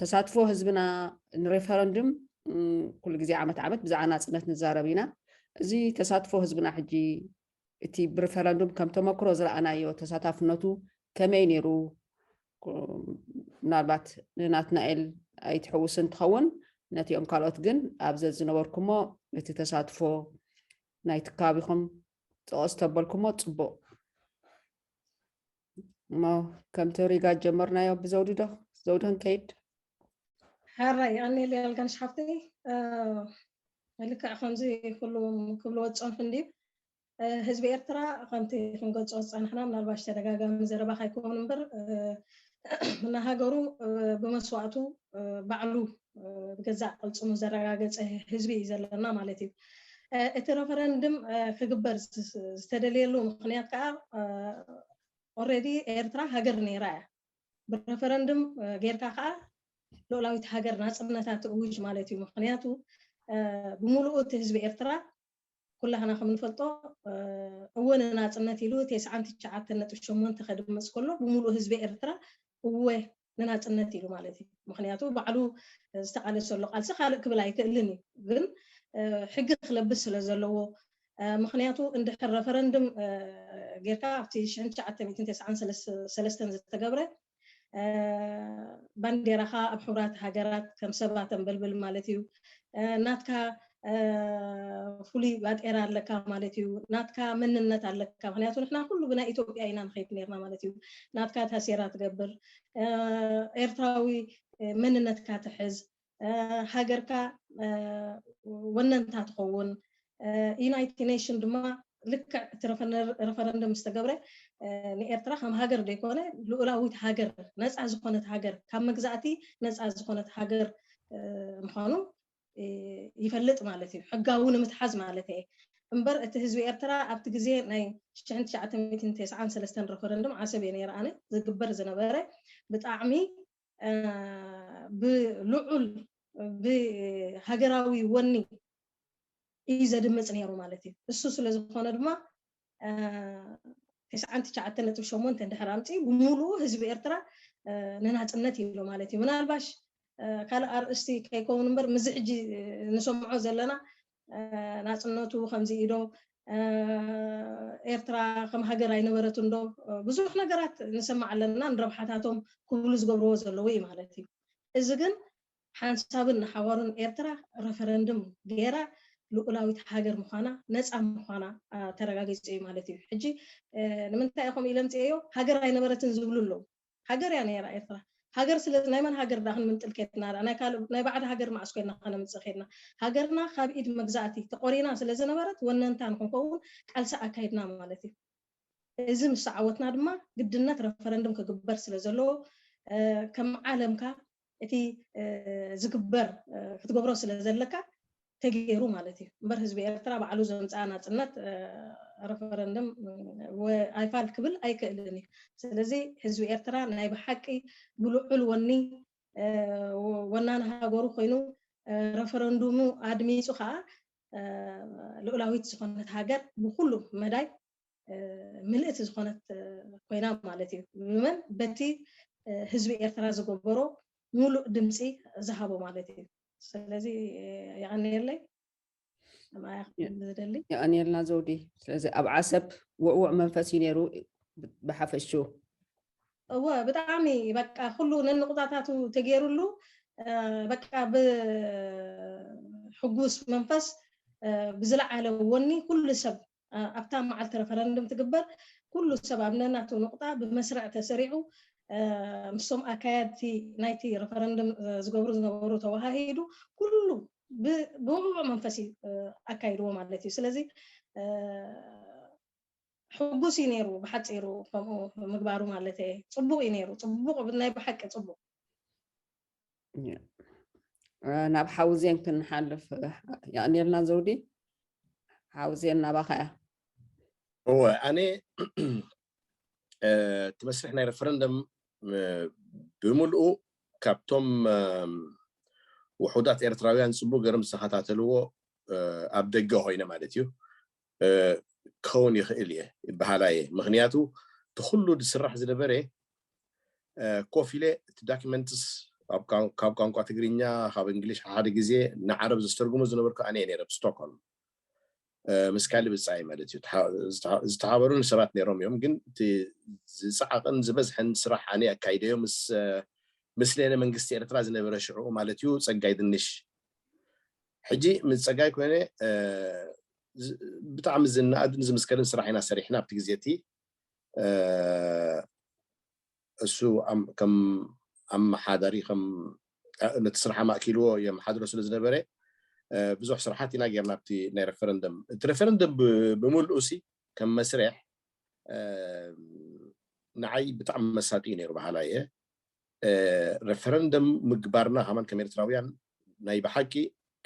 ተሳትፎ ህዝብና ንሬፈረንድም ኩሉ ግዜ ዓመት ዓመት ብዛዕባ ናፅነት ንዛረብ ኢና እዚ ተሳትፎ ህዝብና ሕጂ እቲ ብሪፈረንዱም ከም ተመክሮ ዝረኣናዮ ተሳታፍነቱ ከመይ ነይሩ ምናልባት ንናትናኤል ኣይትሕውስን ትኸውን ነቲኦም ካልኦት ግን ኣብ ዘዝነበርኩሞ እቲ ተሳትፎ ናይቲ ከባቢኹም ፀቐስ ተበልኩሞ ፅቡቕ እሞ ከምቲ ሪጋ ጀመርናዮ ብዘውዲ ዶ ዘውዲ ክንከይድ ሓራይ ይቐኒል ያልጋንሽ ሓፍተይ ልክዕ ከምዚ ኩሉ ክብልዎ ዝፀንሑ እንድዩ ህዝቢ ኤርትራ ከምቲ ክንገልፆ ዝፀናሕና ምናልባሽ ተደጋጋሚ ዘረባ ካይከውን እምበር ንሃገሩ ብመስዋእቱ ባዕሉ ብገዛእ ቅልፅሙ ዘረጋገፀ ህዝቢ እዩ ዘለና ማለት እዩ። እቲ ረፈረንድም ክግበር ዝተደልየሉ ምክንያት ከዓ ኦልሬዲ ኤርትራ ሃገር ነይራ እያ። ብረፈረንድም ጌርካ ከዓ ልኡላዊት ሃገር ናፅነታ ትእውጅ ማለት እዩ። ምክንያቱ ብምሉኡ እቲ ህዝቢ ኤርትራ ኩላህና ከም ንፈልጦ እወ ንናፅነት ኢሉ ቴስዓን ትሽዓተን ነጥቢ ሸሞንተ ከድምፅ ከሎ ብምሉኡ ህዝቢ ኤርትራ እወ ንናጽነት ኢሉ ማለት እዩ ምኽንያቱ ባዕሉ ዝተቃለሰሉ ቃልሲ ካልእ ክብል ኣይክእልን እዩ ግን ሕጊ ክለብስ ስለ ዘለዎ ምኽንያቱ እንድሕር ረፈረንድም ጌርካ ኣብቲ ሽሕን ትሽዓተ ሚእትን ተስዓን ሰለስተን ዝተገብረ ባንዴራኻ ኣብ ሕቡራት ሃገራት ከም ሰባ ተንበልብል ማለት እዩ ናትካ ፍሉይ ባጤራ ኣለካ ማለት እዩ ናትካ መንነት ኣለካ ምክንያቱ ንሕና ኩሉ ብናይ ኢትዮጵያ ኢና ንኸይድ ነርና ማለት እዩ ናትካ ታሴራ ትገብር ኤርትራዊ መንነትካ ትሕዝ ሃገርካ ወነንታ ትኸውን ዩናይትድ ኔሽን ድማ ልክዕ እቲ ረፈረንደም ዝተገብረ ንኤርትራ ከም ሃገር ዘይኮነ ልኡላዊት ሃገር ነፃ ዝኾነት ሃገር ካብ መግዛእቲ ነፃ ዝኾነት ሃገር ምዃኑ ይፈልጥ ማለት እዩ ሕጋዊ ንምትሓዝ ማለት እየ እምበር እቲ ህዝቢ ኤርትራ ኣብቲ ግዜ ናይ ሽሕን ትሽዓተን ሚእትን ቴስዓን ሰለስተን ረፈረንድም ዓሰብ እየ ነይረ ኣነ ዝግበር ዝነበረ ብጣዕሚ ብልዑል ብሃገራዊ ወኒ እዩ ዘድምፅ ነይሩ ማለት እዩ እሱ ስለ ዝኾነ ድማ ትስዓን ትሽዓተን ነጥቢ ሸሞንተ እንድሕር ኣምፂኡ ብምሉኡ ህዝቢ ኤርትራ ንናፅነት ኢሉ ማለት እዩ። ምናልባሽ ካልእ ኣርእስቲ ከይከውን እምበር ምስዚ ሕጂ ንሰምዖ ዘለና ናፅነቱ ከምዚ ኢዶ ኤርትራ ከም ሃገር ኣይነበረትን ዶ ብዙሕ ነገራት ንሰማዕ ኣለና ንረብሓታቶም ክብሉ ዝገብርዎ ዘለዉ እዩ ማለት እዩ። እዚ ግን ሓንሳብን ንሓዋሩን ኤርትራ ረፈረንድም ገይራ ልኡላዊት ሃገር ምዃና ነጻ ምዃና ተረጋጊጹ ኢዩ ማለት ኢዩ። ሕጂ ንምንታይ ኢየ ከምኡ ኢለ ኣምጺኤዮ ሃገር ኣይነበረትን ዝብሉ ኣለዉ። ሃገር ኢያ ነይራ ኤርትራ። ሃገር ስለ ናይ መን ሃገር ድኣ ክንምንጥል ኬድና ድኣ ናይ ካልእ ናይ ባዕዲ ሃገር መዓስ ኮይና ከነምጽእ ኬድና። ሃገርና ካብ ኢድ መግዛእቲ ተቖሪና ስለ ዝነበረት ወነንታ ንኽንከውን ቃልሲ ኣካይድና ማለት ኢዩ። እዚ ምስ ተዓወትና ድማ ግድነት ረፈረንድም ክግበር ስለ ዘለዎ ከም ዓለምካ እቲ ዝግበር ክትገብሮ ስለ ዘለካ ተገይሩ ማለት እዩ እምበር ህዝቢ ኤርትራ ባዕሉ ዘምፀኣ ናፅነት ረፈረንደም ኣይፋል ክብል ኣይክእልን እዩ ስለዚ ህዝቢ ኤርትራ ናይ ብሓቂ ብልዑል ወኒ ወናኒ ሃገሩ ኮይኑ ረፈረንዱሙ ኣድሚፁ ከዓ ልኡላዊት ዝኾነት ሃገር ብኩሉ መዳይ ምልእቲ ዝኾነት ኮይና ማለት እዩ ንመን በቲ ህዝቢ ኤርትራ ዝገበሮ ሙሉእ ድምፂ ዝሃቦ ማለት እዩ ስለዚ የቀንየለይ ዝደሊ የቀንየልና ዘውዲ ስለዚ ኣብ ዓሰብ ውዕውዕ መንፈስ እዩ ነይሩ ብሓፈሹ እወ ብጣዕሚ በቃ ኩሉ ነንቁጣታቱ ተገይሩሉ በቃ ብሕጉስ መንፈስ ብዝለዓለ ወኒ ኩሉ ሰብ ኣብታ መዓልቲ ረፈረንድም ትግበር ኩሉ ሰብ ኣብ ነናቱ ኑቕጣ ብመስርዕ ተሰሪዑ ምስቶም ኣካያድቲ ናይቲ ረፈረንድም ዝገብሩ ዝነበሩ ተወሃሂዱ ኩሉ ብውዕዉዕ መንፈስ እዩ ኣካይድዎ ማለት እዩ። ስለዚ ሕጉስ እዩ ነይሩ ብሓጺሩ ከምኡ ምግባሩ ማለተይ ጽቡቕ እዩ ነይሩ ጽቡቕ ናይ ብሓቂ ጽቡቕ። ናብ ሓውዜን ክንሓልፍ የቕኒልና ዘውዲ ሓውዜን ናባኻ እያ እወ ኣነ እቲ መስርሕ ናይ ረፈረንደም ብምልኡ ካብቶም ውሑዳት ኤርትራውያን ፅቡቅ ገርም ዝተኸታተልዎ ኣብ ደገ ኮይነ ማለት እዩ ክከውን ይክእል እየ ይበሃላ እየ ምክንያቱ እቲ ኩሉ ዝስራሕ ዝነበረ ኮፍ ኢለ እቲ ዳኪመንትስ ካብ ቋንቋ ትግርኛ ካብ እንግሊሽ ሓሓደ ግዜ ንዓረብ ዘስተርጉሞ ዝነበርኩ ኣነ እየ ነይረ ኣብ ስቶኮልም ምስ ካሊ ብጻይ ማለት እዩ ዝተሓበሩኒ ሰባት ነይሮም እዮም ግን እቲ ዝጻዕቕን ዝበዝሐን ስራሕ ኣነ ኣካይደዮ ምስ ምስሌነ መንግስቲ ኤርትራ ዝነበረ ሽዑኡ ማለት እዩ ጸጋይ ድንሽ ሕጂ ምስ ጸጋይ ኮይነ ብጣዕሚ ዝነኣድን ዝምስገንን ስራሕ ኢና ሰሪሕና ኣብቲ ግዜ እቲ እሱ ከም ኣመሓዳሪ ከም ነቲ ስራሕ ኣማእኪልዎ የመሓድሮ ስለ ዝነበረ ብዙሕ ስራሓት ኢና ጌርና ኣብቲ ናይ ረፈረንደም እቲ ረፈረንደም ብምልኡ ሲ ከም መስርሕ ንዓይ ብጣዕሚ መሳጢ እዩ ነይሩ በሃላ እየ ረፈረንደም ምግባርና ከማን ከም ኤርትራውያን ናይ ብሓቂ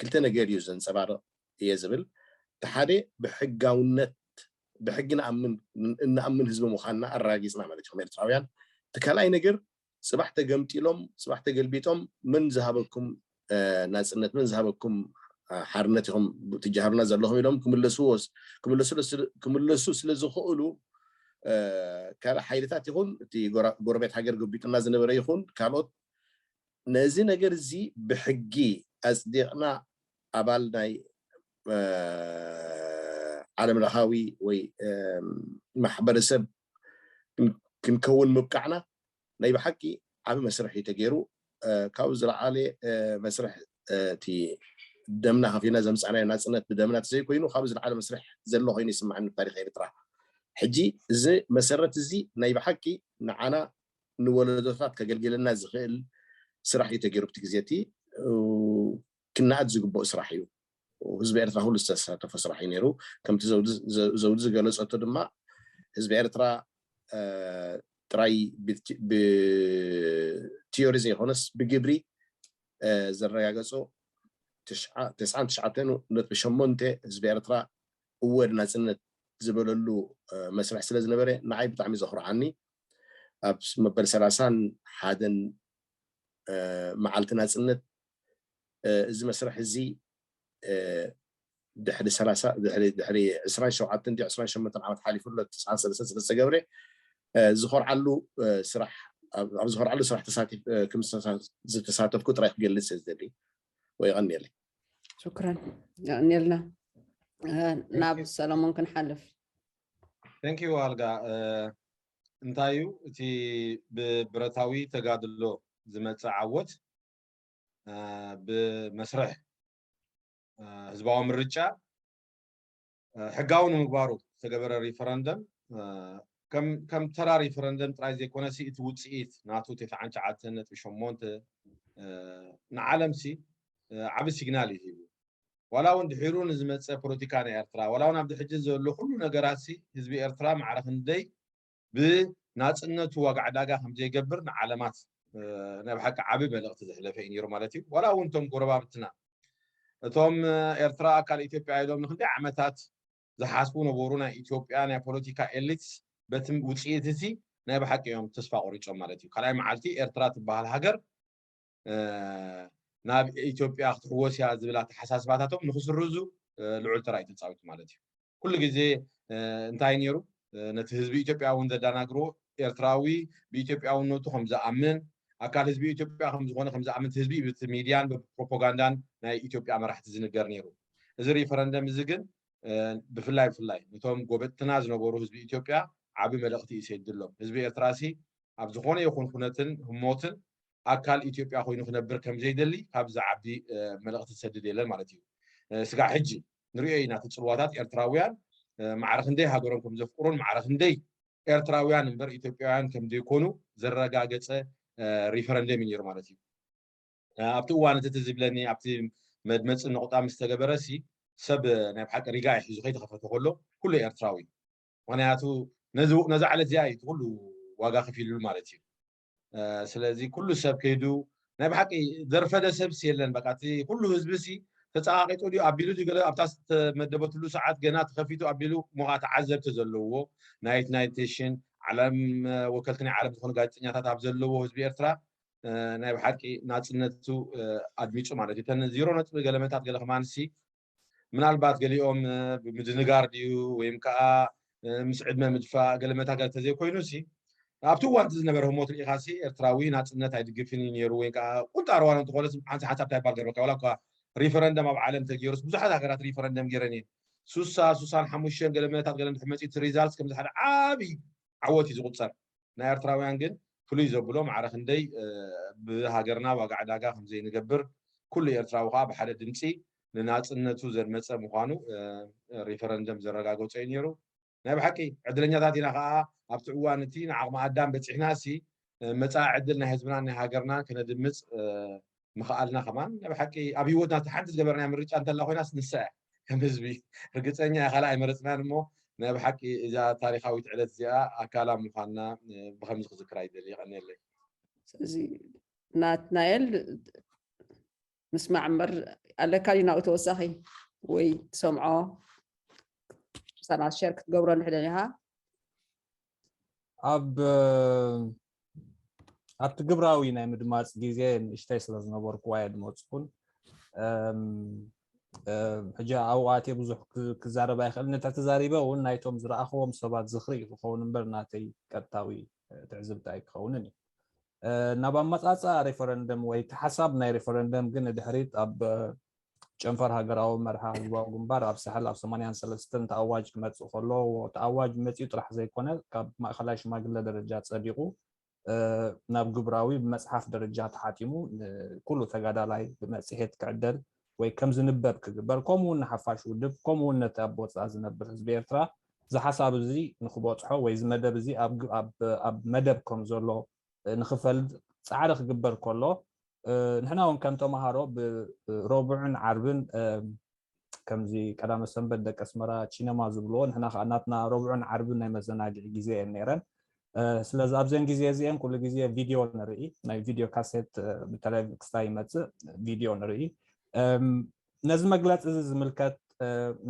ክልተ ነገር እዩ ዘንጸባርቕ እየ ዝብል። እቲ ሓደ ብሕጋውነት ብሕጊ ንኣምን እንኣምን ህዝቢ ምዃንና ኣረጋጊጽና ማለት እዩ ከም ኤርትራውያን። እቲ ካልኣይ ነገር ጽባሕ ተገምጢሎም ጽባሕ ተገልቢጦም መን ዝሃበኩም ናጽነት መን ዝሃበኩም ሓርነት ኢኹም ትጀሃሩና ዘለኹም ኢሎም ክምለሱ ስለ ዝኽእሉ ካልእ ሓይልታት ይኹን እቲ ጎረቤት ሃገር ገቢጡና ዝነበረ ይኹን ካልኦት ነዚ ነገር እዚ ብሕጊ ኣጽዲቕና ኣባል ናይ ዓለም ለኻዊ ወይ ማሕበረሰብ ክንከውን ምብቃዕና ናይ ብሓቂ ዓቢ መስርሕ እዩ ተጌሩ ካብኡ ዝለዓለ መስርሕ እቲ ደምና ከፊልና ዘምጻእናዮ ናጽነት ብደምና ተዘይ ኮይኑ ካብኡ ዝለዓለ መስርሕ ዘሎ ኮይኑ ይስምዓኒ ብታሪኽ ኤርትራ ሕጂ እዚ መሰረት እዚ ናይ ብሓቂ ንዓና ንወለዶታት ከገልግለና ዝኽእል ስራሕ እዩ ተጌሩ ብቲ ግዜ እቲ ክናኣድ ዝግበኦ ስራሕ እዩ። ህዝቢ ኤርትራ ኩሉ ዝተሳተፎ ስራሕ እዩ ነይሩ። ከምቲ ዘውዲ ዝገለጸቶ ድማ ህዝቢ ኤርትራ ጥራይ ብቲዮሪ ዘይኮነስ ብግብሪ ዘረጋገጾ ተስዓን ትሽዓተን ነጥቢ ሸሞንተ ህዝቢ ኤርትራ እወ ንናጽነት ዝበለሉ መስርሕ ስለ ዝነበረ ንዓይ ብጣዕሚ ዘኹርዓኒ ኣብ መበል ሰላሳን ሓደን መዓልቲ ናጽነት እዚ መስርሕ እዚ ድሕሪ ሰላሳ ድሕሪ ድሕሪ ዕስራን ሸውዓተን ድዩ ዕስራን ሸሞንተን ዓመት ሓሊፉ ኣሎ ትስዓን ሰለስተን ስለ ዝተገብረ ዝኾርዓሉ ስራሕ ኣብ ዝኾርዓሉ ስራሕ ተሳቲፍ ከም ዝተሳተፍኩ ጥራይ ክገልጽ እየ ዝደሊ ወይ ይቐኒየለይ ሽኩረን ይቐኒየልና ናብ ሰለሞን ክንሓልፍ ቴንክ ዩ ኣልጋ እንታይ እዩ እቲ ብብረታዊ ተጋድሎ ዝመፀ ዓወት ብመስርሕ ህዝባዊ ምርጫ ሕጋዊ ንምግባሩ ዝተገበረ ሪፈረንደም ከም ተራ ሪፈረንደም ጥራይ ዘይኮነ ሲ እቲ ውፅኢት ናቱ ትሽዓን ትሽዓተን ነጥቢ ሸሞንተ ንዓለም ሲ ዓብ ሲግናል እዩ ሂቡ ዋላ እውን ድሒሩ ንዝመፀ ፖለቲካ ናይ ኤርትራ ዋላ እውን ኣብዚ ሕጂ ዘሎ ኩሉ ነገራት ሲ ህዝቢ ኤርትራ ማዕረ ክንደይ ብናጽነቱ ዋጋ ዕዳጋ ከም ዘይገብር ንዓለማት ናይ ብሓቂ ዓቢ መልእኽቲ ዘሕለፈ እዩ ነይሩ ማለት እዩ ዋላ እውን እቶም ጎረባብትና እቶም ኤርትራ ኣካል ኢትዮጵያ ኢሎም ንክንደይ ዓመታት ዝሓስቡ ነበሩ ናይ ኢትዮጵያ ናይ ፖለቲካ ኤሊትስ በቲ ውፅኢት እቲ ናይ ብሓቂ እዮም ተስፋ ቆሪፆም ማለት እዩ ካልኣይ መዓልቲ ኤርትራ ትበሃል ሃገር ናብ ኢትዮጵያ ክትሕወስ እያ ዝብል ኣተሓሳስባታቶም ንክስርዙ ልዑል ተራ እዩ ተፃዊቱ ማለት እዩ ኩሉ ግዜ እንታይ ነይሩ ነቲ ህዝቢ ኢትዮጵያ እውን ዘዳናግሮ ኤርትራዊ ብኢትዮጵያውነቱ ከም ዝኣምን ኣካል ህዝቢ ኢትዮጵያ ከም ዝኾነ ከም ዝኣምን ህዝቢ ብቲ ሚድያን ብፕሮፓጋንዳን ናይ ኢትዮጵያ መራሕቲ ዝንገር ነይሩ እዚ ሪፈረንደም እዚ ግን ብፍላይ ብፍላይ ነቶም ጎበጥትና ዝነበሩ ህዝቢ ኢትዮጵያ ዓቢ መልእኽቲ እዩ ሰድሎም ህዝቢ ኤርትራ ሲ ኣብ ዝኾነ ይኹን ኩነትን ህሞትን ኣካል ኢትዮጵያ ኮይኑ ክነብር ከምዘይደሊ ካብ ዝዓቢ መልእኽቲ ዝሰድድ የለን ማለት እዩ። ስጋዕ ሕጂ ንርእዮ ኢና እቲ ጽልዋታት ኤርትራውያን ማዕረ ክንደይ ሃገሮም ከም ዘፍቅሩን ማዕረ ክንደይ ኤርትራውያን እምበር ኢትዮጵያውያን ከም ዘይኮኑ ዘረጋገጸ ሪፈረንደም እዩ ነይሩ ማለት እዩ። ኣብቲ እዋን እቲ ዝብለኒ ኣብቲ መድመፂ ነቑጣ ምስ ተገበረ ሲ ሰብ ናይ ብሓቂ ሪጋ እዩ ሒዙ ከይተኸፈተ ከሎ ኩሉ ኤርትራዊ ምክንያቱ ነዚ ዕለት እዚኣ እዩ እቲ ኩሉ ዋጋ ከፊልሉ ማለት እዩ ስለዚ ኩሉ ሰብ ከይዱ ናይ ብሓቂ ዘርፈደ ሰብስ የለን በቃ እቲ ኩሉ ህዝቢ ሲ ተፀቃቂጡ ድዩ ኣቢሉ ድዩ ገለ ኣብታ ዝተመደበትሉ ሰዓት ገና ተኸፊቱ ኣቢሉ እሞ ከዓ ተዓዘብቲ ዘለዎ ናይት ናይት ቴሽን ዓለም ወከልቲ ናይ ዓለም ዝኾኑ ጋዜጠኛታት ኣብ ዘለዎ ህዝቢ ኤርትራ ናይ ብሓቂ ናፅነቱ ኣድሚፁ ማለት እዩ ተን ዜሮ ነጥቢ ገለመታት ገለ ከማንሲ ምናልባት ገሊኦም ብምድንጋር ድዩ ወይም ከኣ ምስ ዕድመ ምድፋእ ገለ መታገል ተዘይኮይኑሲ ኣብቲ እዋን እቲ ዝነበረ ህሞት ርኢኻሲ ኤርትራዊ ናጽነት ኣይድግፍን እዩ ነይሩ ወይ ከኣ ቁንጣ ርዋን እንተኾነስ ሓንሳ ሓንሳብ እንታይ ባል ገርበካ ዋላ እኳ ሪፈረንደም ኣብ ዓለም ተገይሩስ ብዙሓት ሃገራት ሪፈረንደም ገይረን እየን ሱሳ ሱሳን ሓሙሽተን ገለ መታት ገለ እንድሕር መጺኡ እቲ ሪዛልት ከምዚ ሓደ ዓቢ ዓወት እዩ ዝቑጸር ናይ ኣርትራውያን ግን ፍሉይ ዘብሎ ማዕረ ክንደይ ብሃገርና ዋጋ ዕዳጋ ከምዘይንገብር ኩሉ ኤርትራዊ ከኣ ብሓደ ድምጺ ንናጽነቱ ዘድመጸ ምዃኑ ሪፈረንደም ዘረጋገጾ እዩ ኔሩ። ናይ ብሓቂ ዕድለኛታት ኢና ከኣ ኣብቲ እዋን እቲ ንዓቕሚ ኣዳም በጺሕናሲ መጻኢ ዕድል ናይ ህዝብናን ናይ ሃገርናን ከነድምጽ ምኽኣልና ከማን ናይ ብሓቂ ኣብ ሂወትና እታ ሓንቲ ዝገበርናያ ምርጫ እንተላ ኮይናስ ንሳ እያ ከም ህዝቢ ርግጸኛ እየ ካልእ ኣይመረጽናን እሞ ናይ ብሓቂ እዛ ታሪኻዊት ዕለት እዚኣ ኣካላ ምዃንና ብከምዚ ክዝክራ ይደሊ ይቐንየለይ ስለዚ ናትናኤል ምስማዕ እምበር ኣለካ ድዩ ናብኡ ተወሳኺ ወይ ትሰምዖ ሳና ሸር ክትገብረሉ ሕደን ኢኻ ኣብ ኣብቲ ግብራዊ ናይ ምድማፅ ግዜ ንእሽተይ ስለ ዝነበርኩ ዋየ ድመፅኩን ሕጂ ኣብኡ ኣትየ ብዙሕ ክዛረብ ኣይክእል ነታ ተዛሪበ እውን ናይቶም ዝረኣኽዎም ሰባት ዝኽሪ እዩ ክኸውን እምበር ናተይ ቀጥታዊ ትዕዝብቲ ኣይክኸውንን እዩ ናብ ኣመፃፅኣ ሬፈረንደም ወይ እቲ ሓሳብ ናይ ሬፈረንደም ግን ድሕሪት ኣብ ጨንፈር ሃገራዊ መርሃ ህዝባዊ ግንባር ኣብ ሳሕል ኣብ ሰማንያን ሰለስተን ተኣዋጅ ክመጽእ ከሎ ተኣዋጅ መጺኡ ጥራሕ ዘይኮነ ካብ ማእከላይ ሽማግለ ደረጃ ጸዲቑ ናብ ግብራዊ ብመጽሓፍ ደረጃ ተሓቲሙ ንኩሉ ተጋዳላይ ብመጽሔት ክዕደል ወይ ከም ዝንበብ ክግበር ከምኡ ውን ንሓፋሽ ውድብ ከምኡ ውን ነቲ ኣብ ወጻኢ ዝነብር ህዝቢ ኤርትራ እዚ ሓሳብ እዚ ንክበጽሖ ወይ እዚ መደብ እዚ ኣብ መደብ ከም ዘሎ ንኽፈልጥ ጻዕሪ ክግበር ከሎ ንሕና እውን ከም ተምሃሮ ብሮቡዕን ዓርብን ከምዚ ቀዳመ ሰንበት ደቂ ኣስመራ ቺነማ ዝብልዎ ንሕና ከዓ ናትና ሮቡዕን ዓርብን ናይ መዘናግዒ ግዜ እየን ነይረን ስለዚ ኣብዘን ግዜ እዚአን ኩሉ ግዜ ቪድዮ ንርኢ ናይ ቪድዮ ካሴት ብተለይ ክስታይ ይመፅእ ቪድዮ ንርኢ ነዚ መግለፂ እዚ ዝምልከት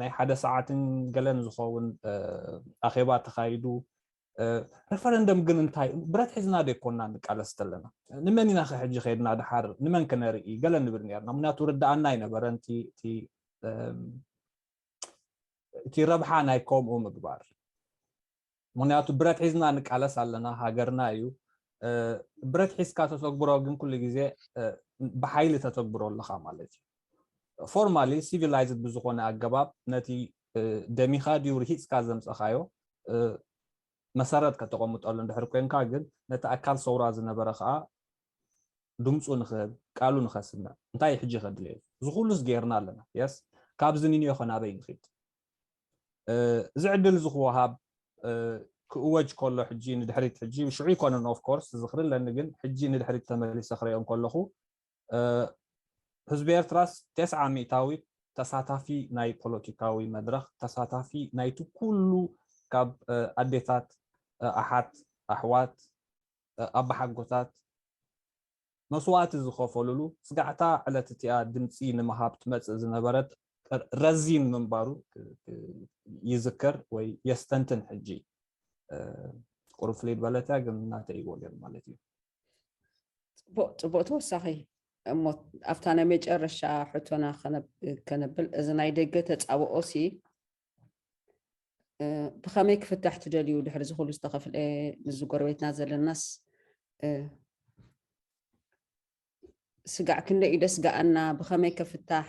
ናይ ሓደ ሰዓትን ገለን ዝኸውን ኣኼባ ተኻይዱ ረፈረንደም ግን እንታይ ብረት ሒዝና ደይኮና ንቃለስ ዘለና ንመን ኢና ከሕጂ ከድና ድሓር ንመን ክነርኢ ገለ ንብል ነርና ምክንያቱ ርዳኣና ኣይነበረን እቲ ረብሓ ናይ ከምኡ ምግባር ምክንያቱ ብረት ሒዝና ንቃለስ ኣለና ሃገርና እዩ ብረት ሒዝካ ተተግብሮ ግን ኩሉ ግዜ ብሓይሊ ተተግብሮ ኣለካ ማለት እዩ ፎርማሊ ሲቪላይዝድ ብዝኾነ ኣገባብ ነቲ ደሚኻ ድዩ ርሂጽካ ዘምጸኻዮ መሰረት ከተቐምጠሉ እንድሕር ኮንካ ግን ነቲ ኣካል ሰውራ ዝነበረ ከኣ ድምጹ ንክህብ ቃሉ ንከስምዕ እንታይ ሕጂ ከድልዮ እዩ እዚ ኩሉስ ጌርና ኣለና የስ ካብዚ ንንዮ ከናበይ ንኺድ እዚ ዕድል እዚ ክወሃብ ክእወጅ ከሎ ሕጂ ንድሕሪት ሕጂ ሽዑ ይኮነን ኦፍ ኮርስ ዝኽሪ ኣለኒ ግን ሕጂ ንድሕሪት ተመሊሰ ክሪኦ ከለኹ ህዝቢ ኤርትራስ ቴስዓ ሚእታዊት ተሳታፊ ናይ ፖለቲካዊ መድረኽ፣ ተሳታፊ ናይቲ ኩሉ ካብ ኣዴታት፣ ኣሓት፣ ኣሕዋት፣ ኣባሓጎታት መስዋእቲ ዝኸፈሉሉ ስጋዕታ ዕለት እቲኣ ድምጺ ንምሃብ ትመጽእ ዝነበረት ረዚን ምንባሩ ይዝክር ወይ የስተንትን ሕጂ። ቁሩብ ፍልይ በለት እያ ግን ናተይ ወገን ማለት እዩ። ጽቡቅ ጽቡቅ ተወሳኺ እሞ ኣብታ ናይ መጨረሻ ሕቶና ከነብል እዚ ናይ ደገ ተጻብኦ ሲ ብኸመይ ክፍታሕ ትደልዩ ድሕሪ ዝኽሉ ዝተኸፍለ ምስ ጎረቤትና ዘለናስ ስጋዕ ክንደይ እዩ ደስ ገኣና ብኸመይ ከፍታሕ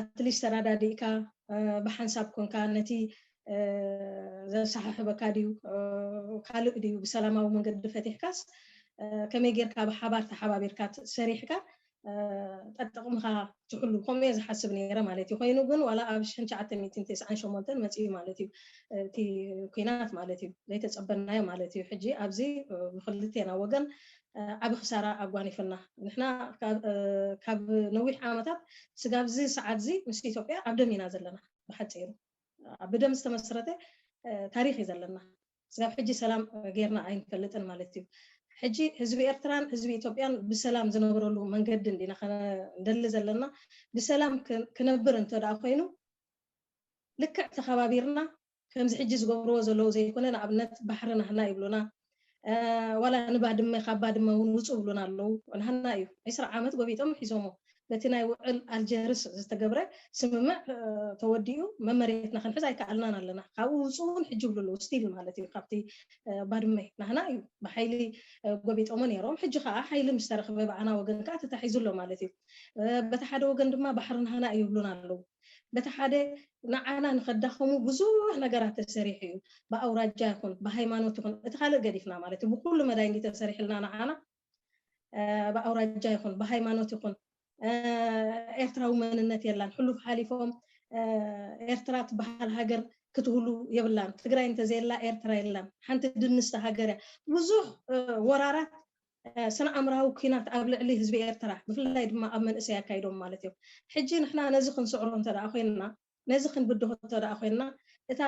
ኣትሊስት ተራዳዲእካ ብሓንሳብ ኮንካ ነቲ ዘሰሓሕበካ ድዩ ካልእ ድዩ ብሰላማዊ መንገዲ ፈቲሕካስ ከመይ ጌርካ ብሓባር ተሓባቢርካ ሰሪሕካ ጠጥቕምኻ ትሕሉ ከምኡ እየ ዝሓስብ ነይረ ማለት እዩ ኮይኑ ግን ዋላ ኣብ ሽሕን ሸዓተ ሚእትን ተስዓን ሸሞንተን መፅኡ ማለት እዩ እቲ ኩናት ማለት እዩ ዘይተፀበናዮ ማለት እዩ ሕጂ ኣብዚ ብክልቴና ወገን ዓቢ ክሳራ ኣጓኒፉና። ንሕና ካብ ነዊሕ ዓመታት ስጋብዚ ሰዓትዚ ምስ ኢትዮጵያ ኣብ ደም ኢና ዘለና። ብሓጺሩ ኣብ ብደም ዝተመስረተ ታሪኽ እዩ ዘለና። ስጋብ ሕጂ ሰላም ጌርና ኣይንፈልጥን ማለት እዩ። ሕጂ ህዝቢ ኤርትራን ህዝቢ ኢትዮጵያን ብሰላም ዝነብረሉ መንገዲ እንዲና ክንደሊ ዘለና። ብሰላም ክነብር እንተድኣ ኮይኑ ልክዕ ተኸባቢርና ከምዚ ሕጂ ዝገብርዎ ዘለዉ ዘይኮነ ንኣብነት ባሕሪ ናህና ይብሉና ዋላ ንባድመ ካብ ባድመ ውን ውጹ ይብሉና ኣለዉ ናህና ኢዩ ዕስራ ዓመት ጎቢጦም ሒዞሞ በቲ ናይ ውዕል ኣልጀርስ ዝተገብረ ስምምዕ ተወዲኡ መመሬትና ክንሕዝ ኣይከኣልናን ኣለና ካብኡ ውጹ ውን ሕጂ ይብሉ ኣለዉ ስቲል ማለት ኢዩ ካብቲ ባድመ ናህና ኢዩ ብሓይሊ ጎቢጦሞ ኔሮም ሕጂ ከኣ ሓይሊ ምስ ተረኽበ ብኣና ወገን ከኣ ተታሒዙ ኣሎ ማለት ኢዩ በቲ ሓደ ወገን ድማ ባሕሪ ናህና ኢዩ ይብሉና ኣለዉ በቲ ሓደ ንዓና ንኸዳኸሙ ብዙሕ ነገራት ተሰሪሑ እዩ ብኣውራጃ ይኹን ብሃይማኖት ይኹን እቲ ካልእ ገዲፍና ማለት እዩ ብኹሉ መዳይ እንድዩ ተሰሪሕልና ንዓና ብኣውራጃ ይኹን ብሃይማኖት ይኹን ኤርትራዊ መንነት የላን ሕሉፍ ሓሊፎም ኤርትራ ትበሃል ሃገር ክትህሉ የብላን ትግራይ እንተዘየላ ኤርትራ የላን ሓንቲ ድንስቲ ሃገር እያ ብዙሕ ወራራት ስነኣምራዊ ኩናት ኣብ ልዕሊ ህዝቢ ኤርትራ ብፍላይ ድማ ኣብ መንእሰይ ኣካይዶም ማለት እዮም ሕጂ ንሕና ነዚ ክንስዕሮ እንተ ኮይንና ነዚ ክንብድሆ እንተ ኮይንና እታ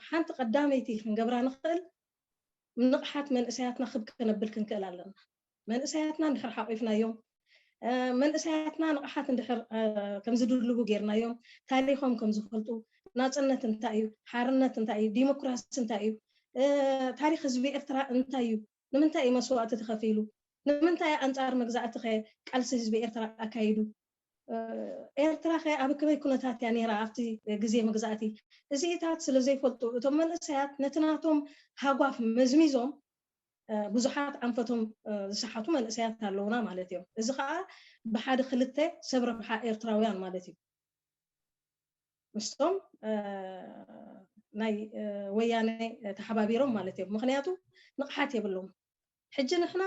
ሓንቲ ቀዳመይቲ ክንገብራ ንኽእል ንቕሓት መንእሰያትና ክብ ከነብል ክንክእል ኣለና መንእሰያትና እንድሕር ሓቒፍናዮም መንእሰያትና ንቕሓት እንድሕር ከም ዝድልቡ ጌርናዮም ታሪኾም ከም ዝፈልጡ ናጽነት እንታይ እዩ ሓርነት እንታይ እዩ ዲሞክራሲ እንታይ እዩ ታሪኽ ህዝቢ ኤርትራ እንታይ እዩ ንምንታይ እዩ መስዋእቲ ተኸፊሉ? ንምንታይ እዩ ኣንጻር መግዛእቲኸ ቃልሲ ህዝቢ ኤርትራ ኣካይዱ? ኤርትራኸ ኣብ ከመይ ኩነታት እያ ነይራ ኣብቲ ግዜ መግዛእቲ? እዚኢታት ስለ ዘይፈልጡ እቶም መንእሰያት ነቲ ናቶም ሃጓፍ መዝሚዞም ብዙሓት ኣንፈቶም ዝሰሓቱ መንእሰያት ኣለዉና ማለት እዮም። እዚ ከኣ ብሓደ ክልተ ሰብ ረብሓ ኤርትራውያን ማለት እዩ። ምስቶም ናይ ወያነ ተሓባቢሮም ማለት እዮም ምክንያቱ ንቕሓት የብሎም ሕጂ ንሕና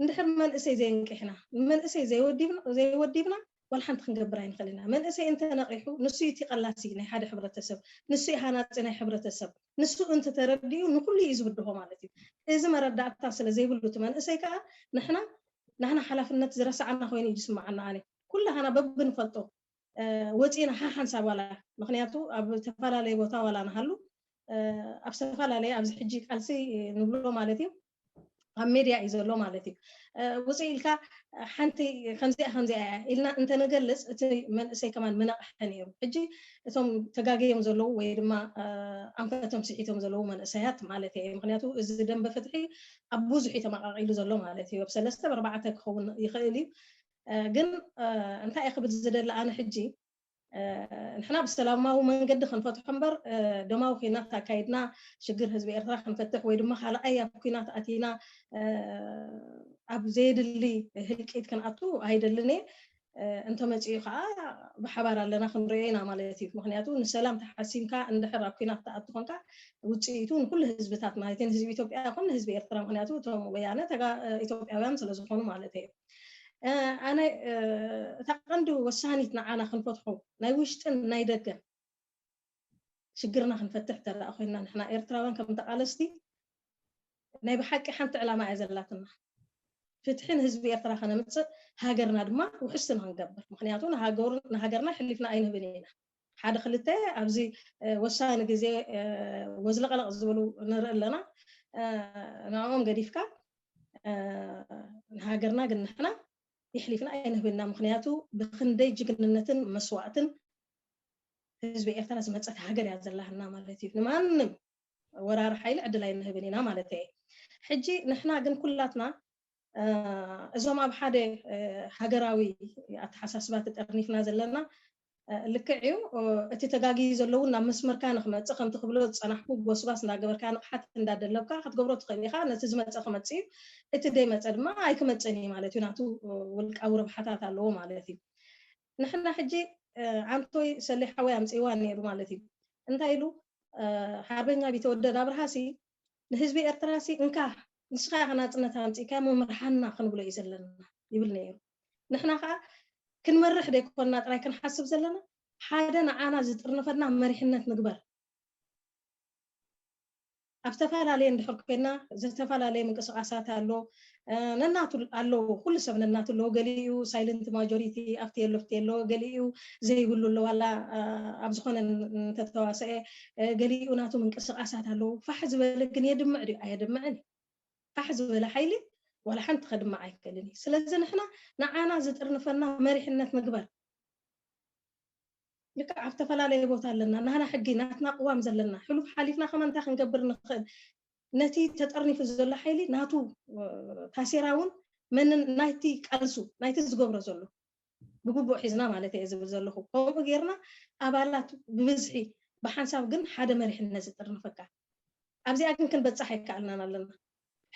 እንድሕር መንእሰይ ዘየንቂሕና ንመንእሰይ ዘይወዲብና ዋላ ሓንቲ ክንገብር ኣይንኽእል ኢና መንእሰይ እንተነቒሑ ንሱ እዩ እቲ ቀላሲ ናይ ሓደ ሕብረተሰብ ንሱ እዩ ሃናጺ ናይ ሕብረተሰብ ንሱ እንተተረዲኡ ንኹሉ እዩ ዝብድሆ ማለት እዩ እዚ መረዳእታ ስለ ዘይብሉ እቲ መንእሰይ ከዓ ንሕና ናህና ሓላፍነት ዝረሳዕና ኮይኑ እዩ ዝስምዓና ኣነ ኩላህና በብንፈልጦ ወጺእና ሓሓንሳብ ዋላ ምኽንያቱ ኣብ ተፈላለየ ቦታ ዋላ ንሃሉ ኣብ ዝተፈላለየ ኣብዚ ሕጂ ቃልሲ ንብሎ ማለት እዩ ኣብ ሜድያ እዩ ዘሎ ማለት እዩ ውፅእ ኢልካ ሓንቲ ከምዚኣ ከምዚኣ እያ ኢልና እንተንገልፅ እቲ መንእሰይ ከማን ምነቕሐ ነይሩ ሕጂ እቶም ተጋገዮም ዘለዉ ወይ ድማ ኣንፈቶም ስሒቶም ዘለዉ መንእሰያት ማለት እየ ምክንያቱ እዚ ደንበ ፍትሒ ኣብ ብዙሕ እዩ ተመቃቂሉ ዘሎ ማለት እዩ ኣብ ሰለስተ ኣርባዕተ ክኸውን ይኽእል እዩ ግን እንታይ እየ ክብል ዝደሊ ኣነ ሕጂ ንሕና ብሰላማዊ መንገዲ ክንፈትሖ እምበር ደማዊ ኩናት ኣካይድና ሽግር ህዝቢ ኤርትራ ክንፈትሕ ወይ ድማ ካልኣይ ኣብ ኩናት ኣቲና ኣብ ዘየድሊ ህልቂት ክንኣቱ ኣይደልን እየ እንተመፅኡ ከዓ ብሓባር ኣለና ክንሪኦ ኢና ማለት እዩ ምክንያቱ ንሰላም ተሓሲምካ እንድሕር ኣብ ኩናት ተኣቱ ኮንካ ውፅኢቱ ንኩሉ ህዝብታት ማለት ንህዝቢ ኢትዮጵያ ኮን ንህዝቢ ኤርትራ ምክንያቱ እቶም ወያነ ኢትዮጵያውያን ስለዝኾኑ ማለት እዩ ኣነ እታ ቀንዲ ወሳኒት ንዓና ክንፈትሖ ናይ ውሽጥን ናይ ደገን ሽግርና ክንፈትሕ እንተ ኮይንና ንሕና ኤርትራውያን ከም ተቓለስቲ ናይ ብሓቂ ሓንቲ ዕላማ እያ ዘላትና ፍትሒ ንህዝቢ ኤርትራ ከነምጽእ ሃገርና ድማ ውሕስቲ ንክንገብር ምክንያቱ ንሃገርና ሕሊፍና ኣይንህብን ኢና ሓደ ክልተ ኣብዚ ወሳኒ ግዜ ወዝለቕለቕ ዝብሉ ንርኢ ኣለና ንዕኦም ገዲፍካ ንሃገርና ግን ንሕና የሕሊፍና ኣይንህብና ምክንያቱ ብክንደይ ጅግንነትን መስዋእትን ህዝቢ ኤርትራ ዝመፀት ሃገር እያ ዘላህና ማለት እዩ ንማንም ወራሪ ሓይሊ ዕድል ኣይንህብን ኢና ማለት እየ ሕጂ ንሕና ግን ኩላትና እዞም ኣብ ሓደ ሃገራዊ ኣተሓሳስባ ተጠርኒፍና ዘለና ልክዕ እዩ እቲ ተጋጊዩ ዘሎ እውን ናብ መስመርካ ንክመፅእ ከምቲ ክብሎ ዝፀናሕኩ ጎስጓስ እንዳገበርካ ንቕሓት እንዳደለብካ ክትገብሮ ትኽእል ኢኻ ነቲ ዝመፀ ክመፅእ እዩ እቲ ዘይመፀ ድማ ኣይክመፅእን እዩ ማለት እዩ ናቱ ውልቃዊ ረብሓታት ኣለዎ ማለት እዩ ንሕና ሕጂ ዓንቶይ ሰሌ ሓወይ ኣምፂእዋ ነይሩ ማለት እዩ እንታይ ኢሉ ሓርበኛ ቢተወደድ ኣብርሃሲ ንህዝቢ ኤርትራሲ እንካ ንስኻ ኢኻ ናጽነት ኣምጺእካ እሞ ምርሓና ክንብሎ እዩ ዘለና ይብል ነይሩ። ንሕና ከኣ ክንመርሕ ደይኮንና ጥራይ ክንሓስብ ዘለና ሓደ ንዓና ዝጥርንፈና መሪሕነት ንግበር። ኣብ ዝተፈላለየ እንድሕር ኮይንና ዝተፈላለየ ምንቅስቓሳት ኣሎ። ነናቱ ኣለዎ ኩሉ ሰብ ነናቱ ኣለዎ ገሊኡ ሳይለንት ማጆሪቲ ኣብቲ የሎ ፍቲ የሎ ገሊኡ ዘይብሉ ኣሎ ዋላ ኣብ ዝኾነ እንተተዋሰአ ገሊኡ ናቱ ምንቅስቃሳት ኣለዎ ፋሕ ዝበለ ግን የድምዕ ድዩ ኣየድምዕን እዩ ፋሕ ዝበለ ሓይሊ ዋላ ሓንቲ ከድምዕ ኣይክእልን እዩ ስለዚ ንሕና ንዓና ዝጥርንፈና መሪሕነት ምግባር ልክዕ ኣብ ዝተፈላለየ ቦታ ኣለና ናህና ሕጊ ናትና ቅዋም ዘለና ሕሉፍ ሓሊፍና ከማ እንታይ ክንገብር ንኽእል ነቲ ተጠርኒፉ ዘሎ ሓይሊ ናቱ ታሴራ ውን መንን ናይቲ ቃልሱ ናይቲ ዝገብሮ ዘሎ ብግቡእ ሒዝና ማለተይ እየ ዝብል ዘለኹ ከምኡ ጌርና ኣባላት ብብዝሒ ብሓንሳብ ግን ሓደ መሪሕነት ዝጥርንፈካ ኣብዚኣ ግን ክንበጽሕ ኣይከኣልናን ኣለና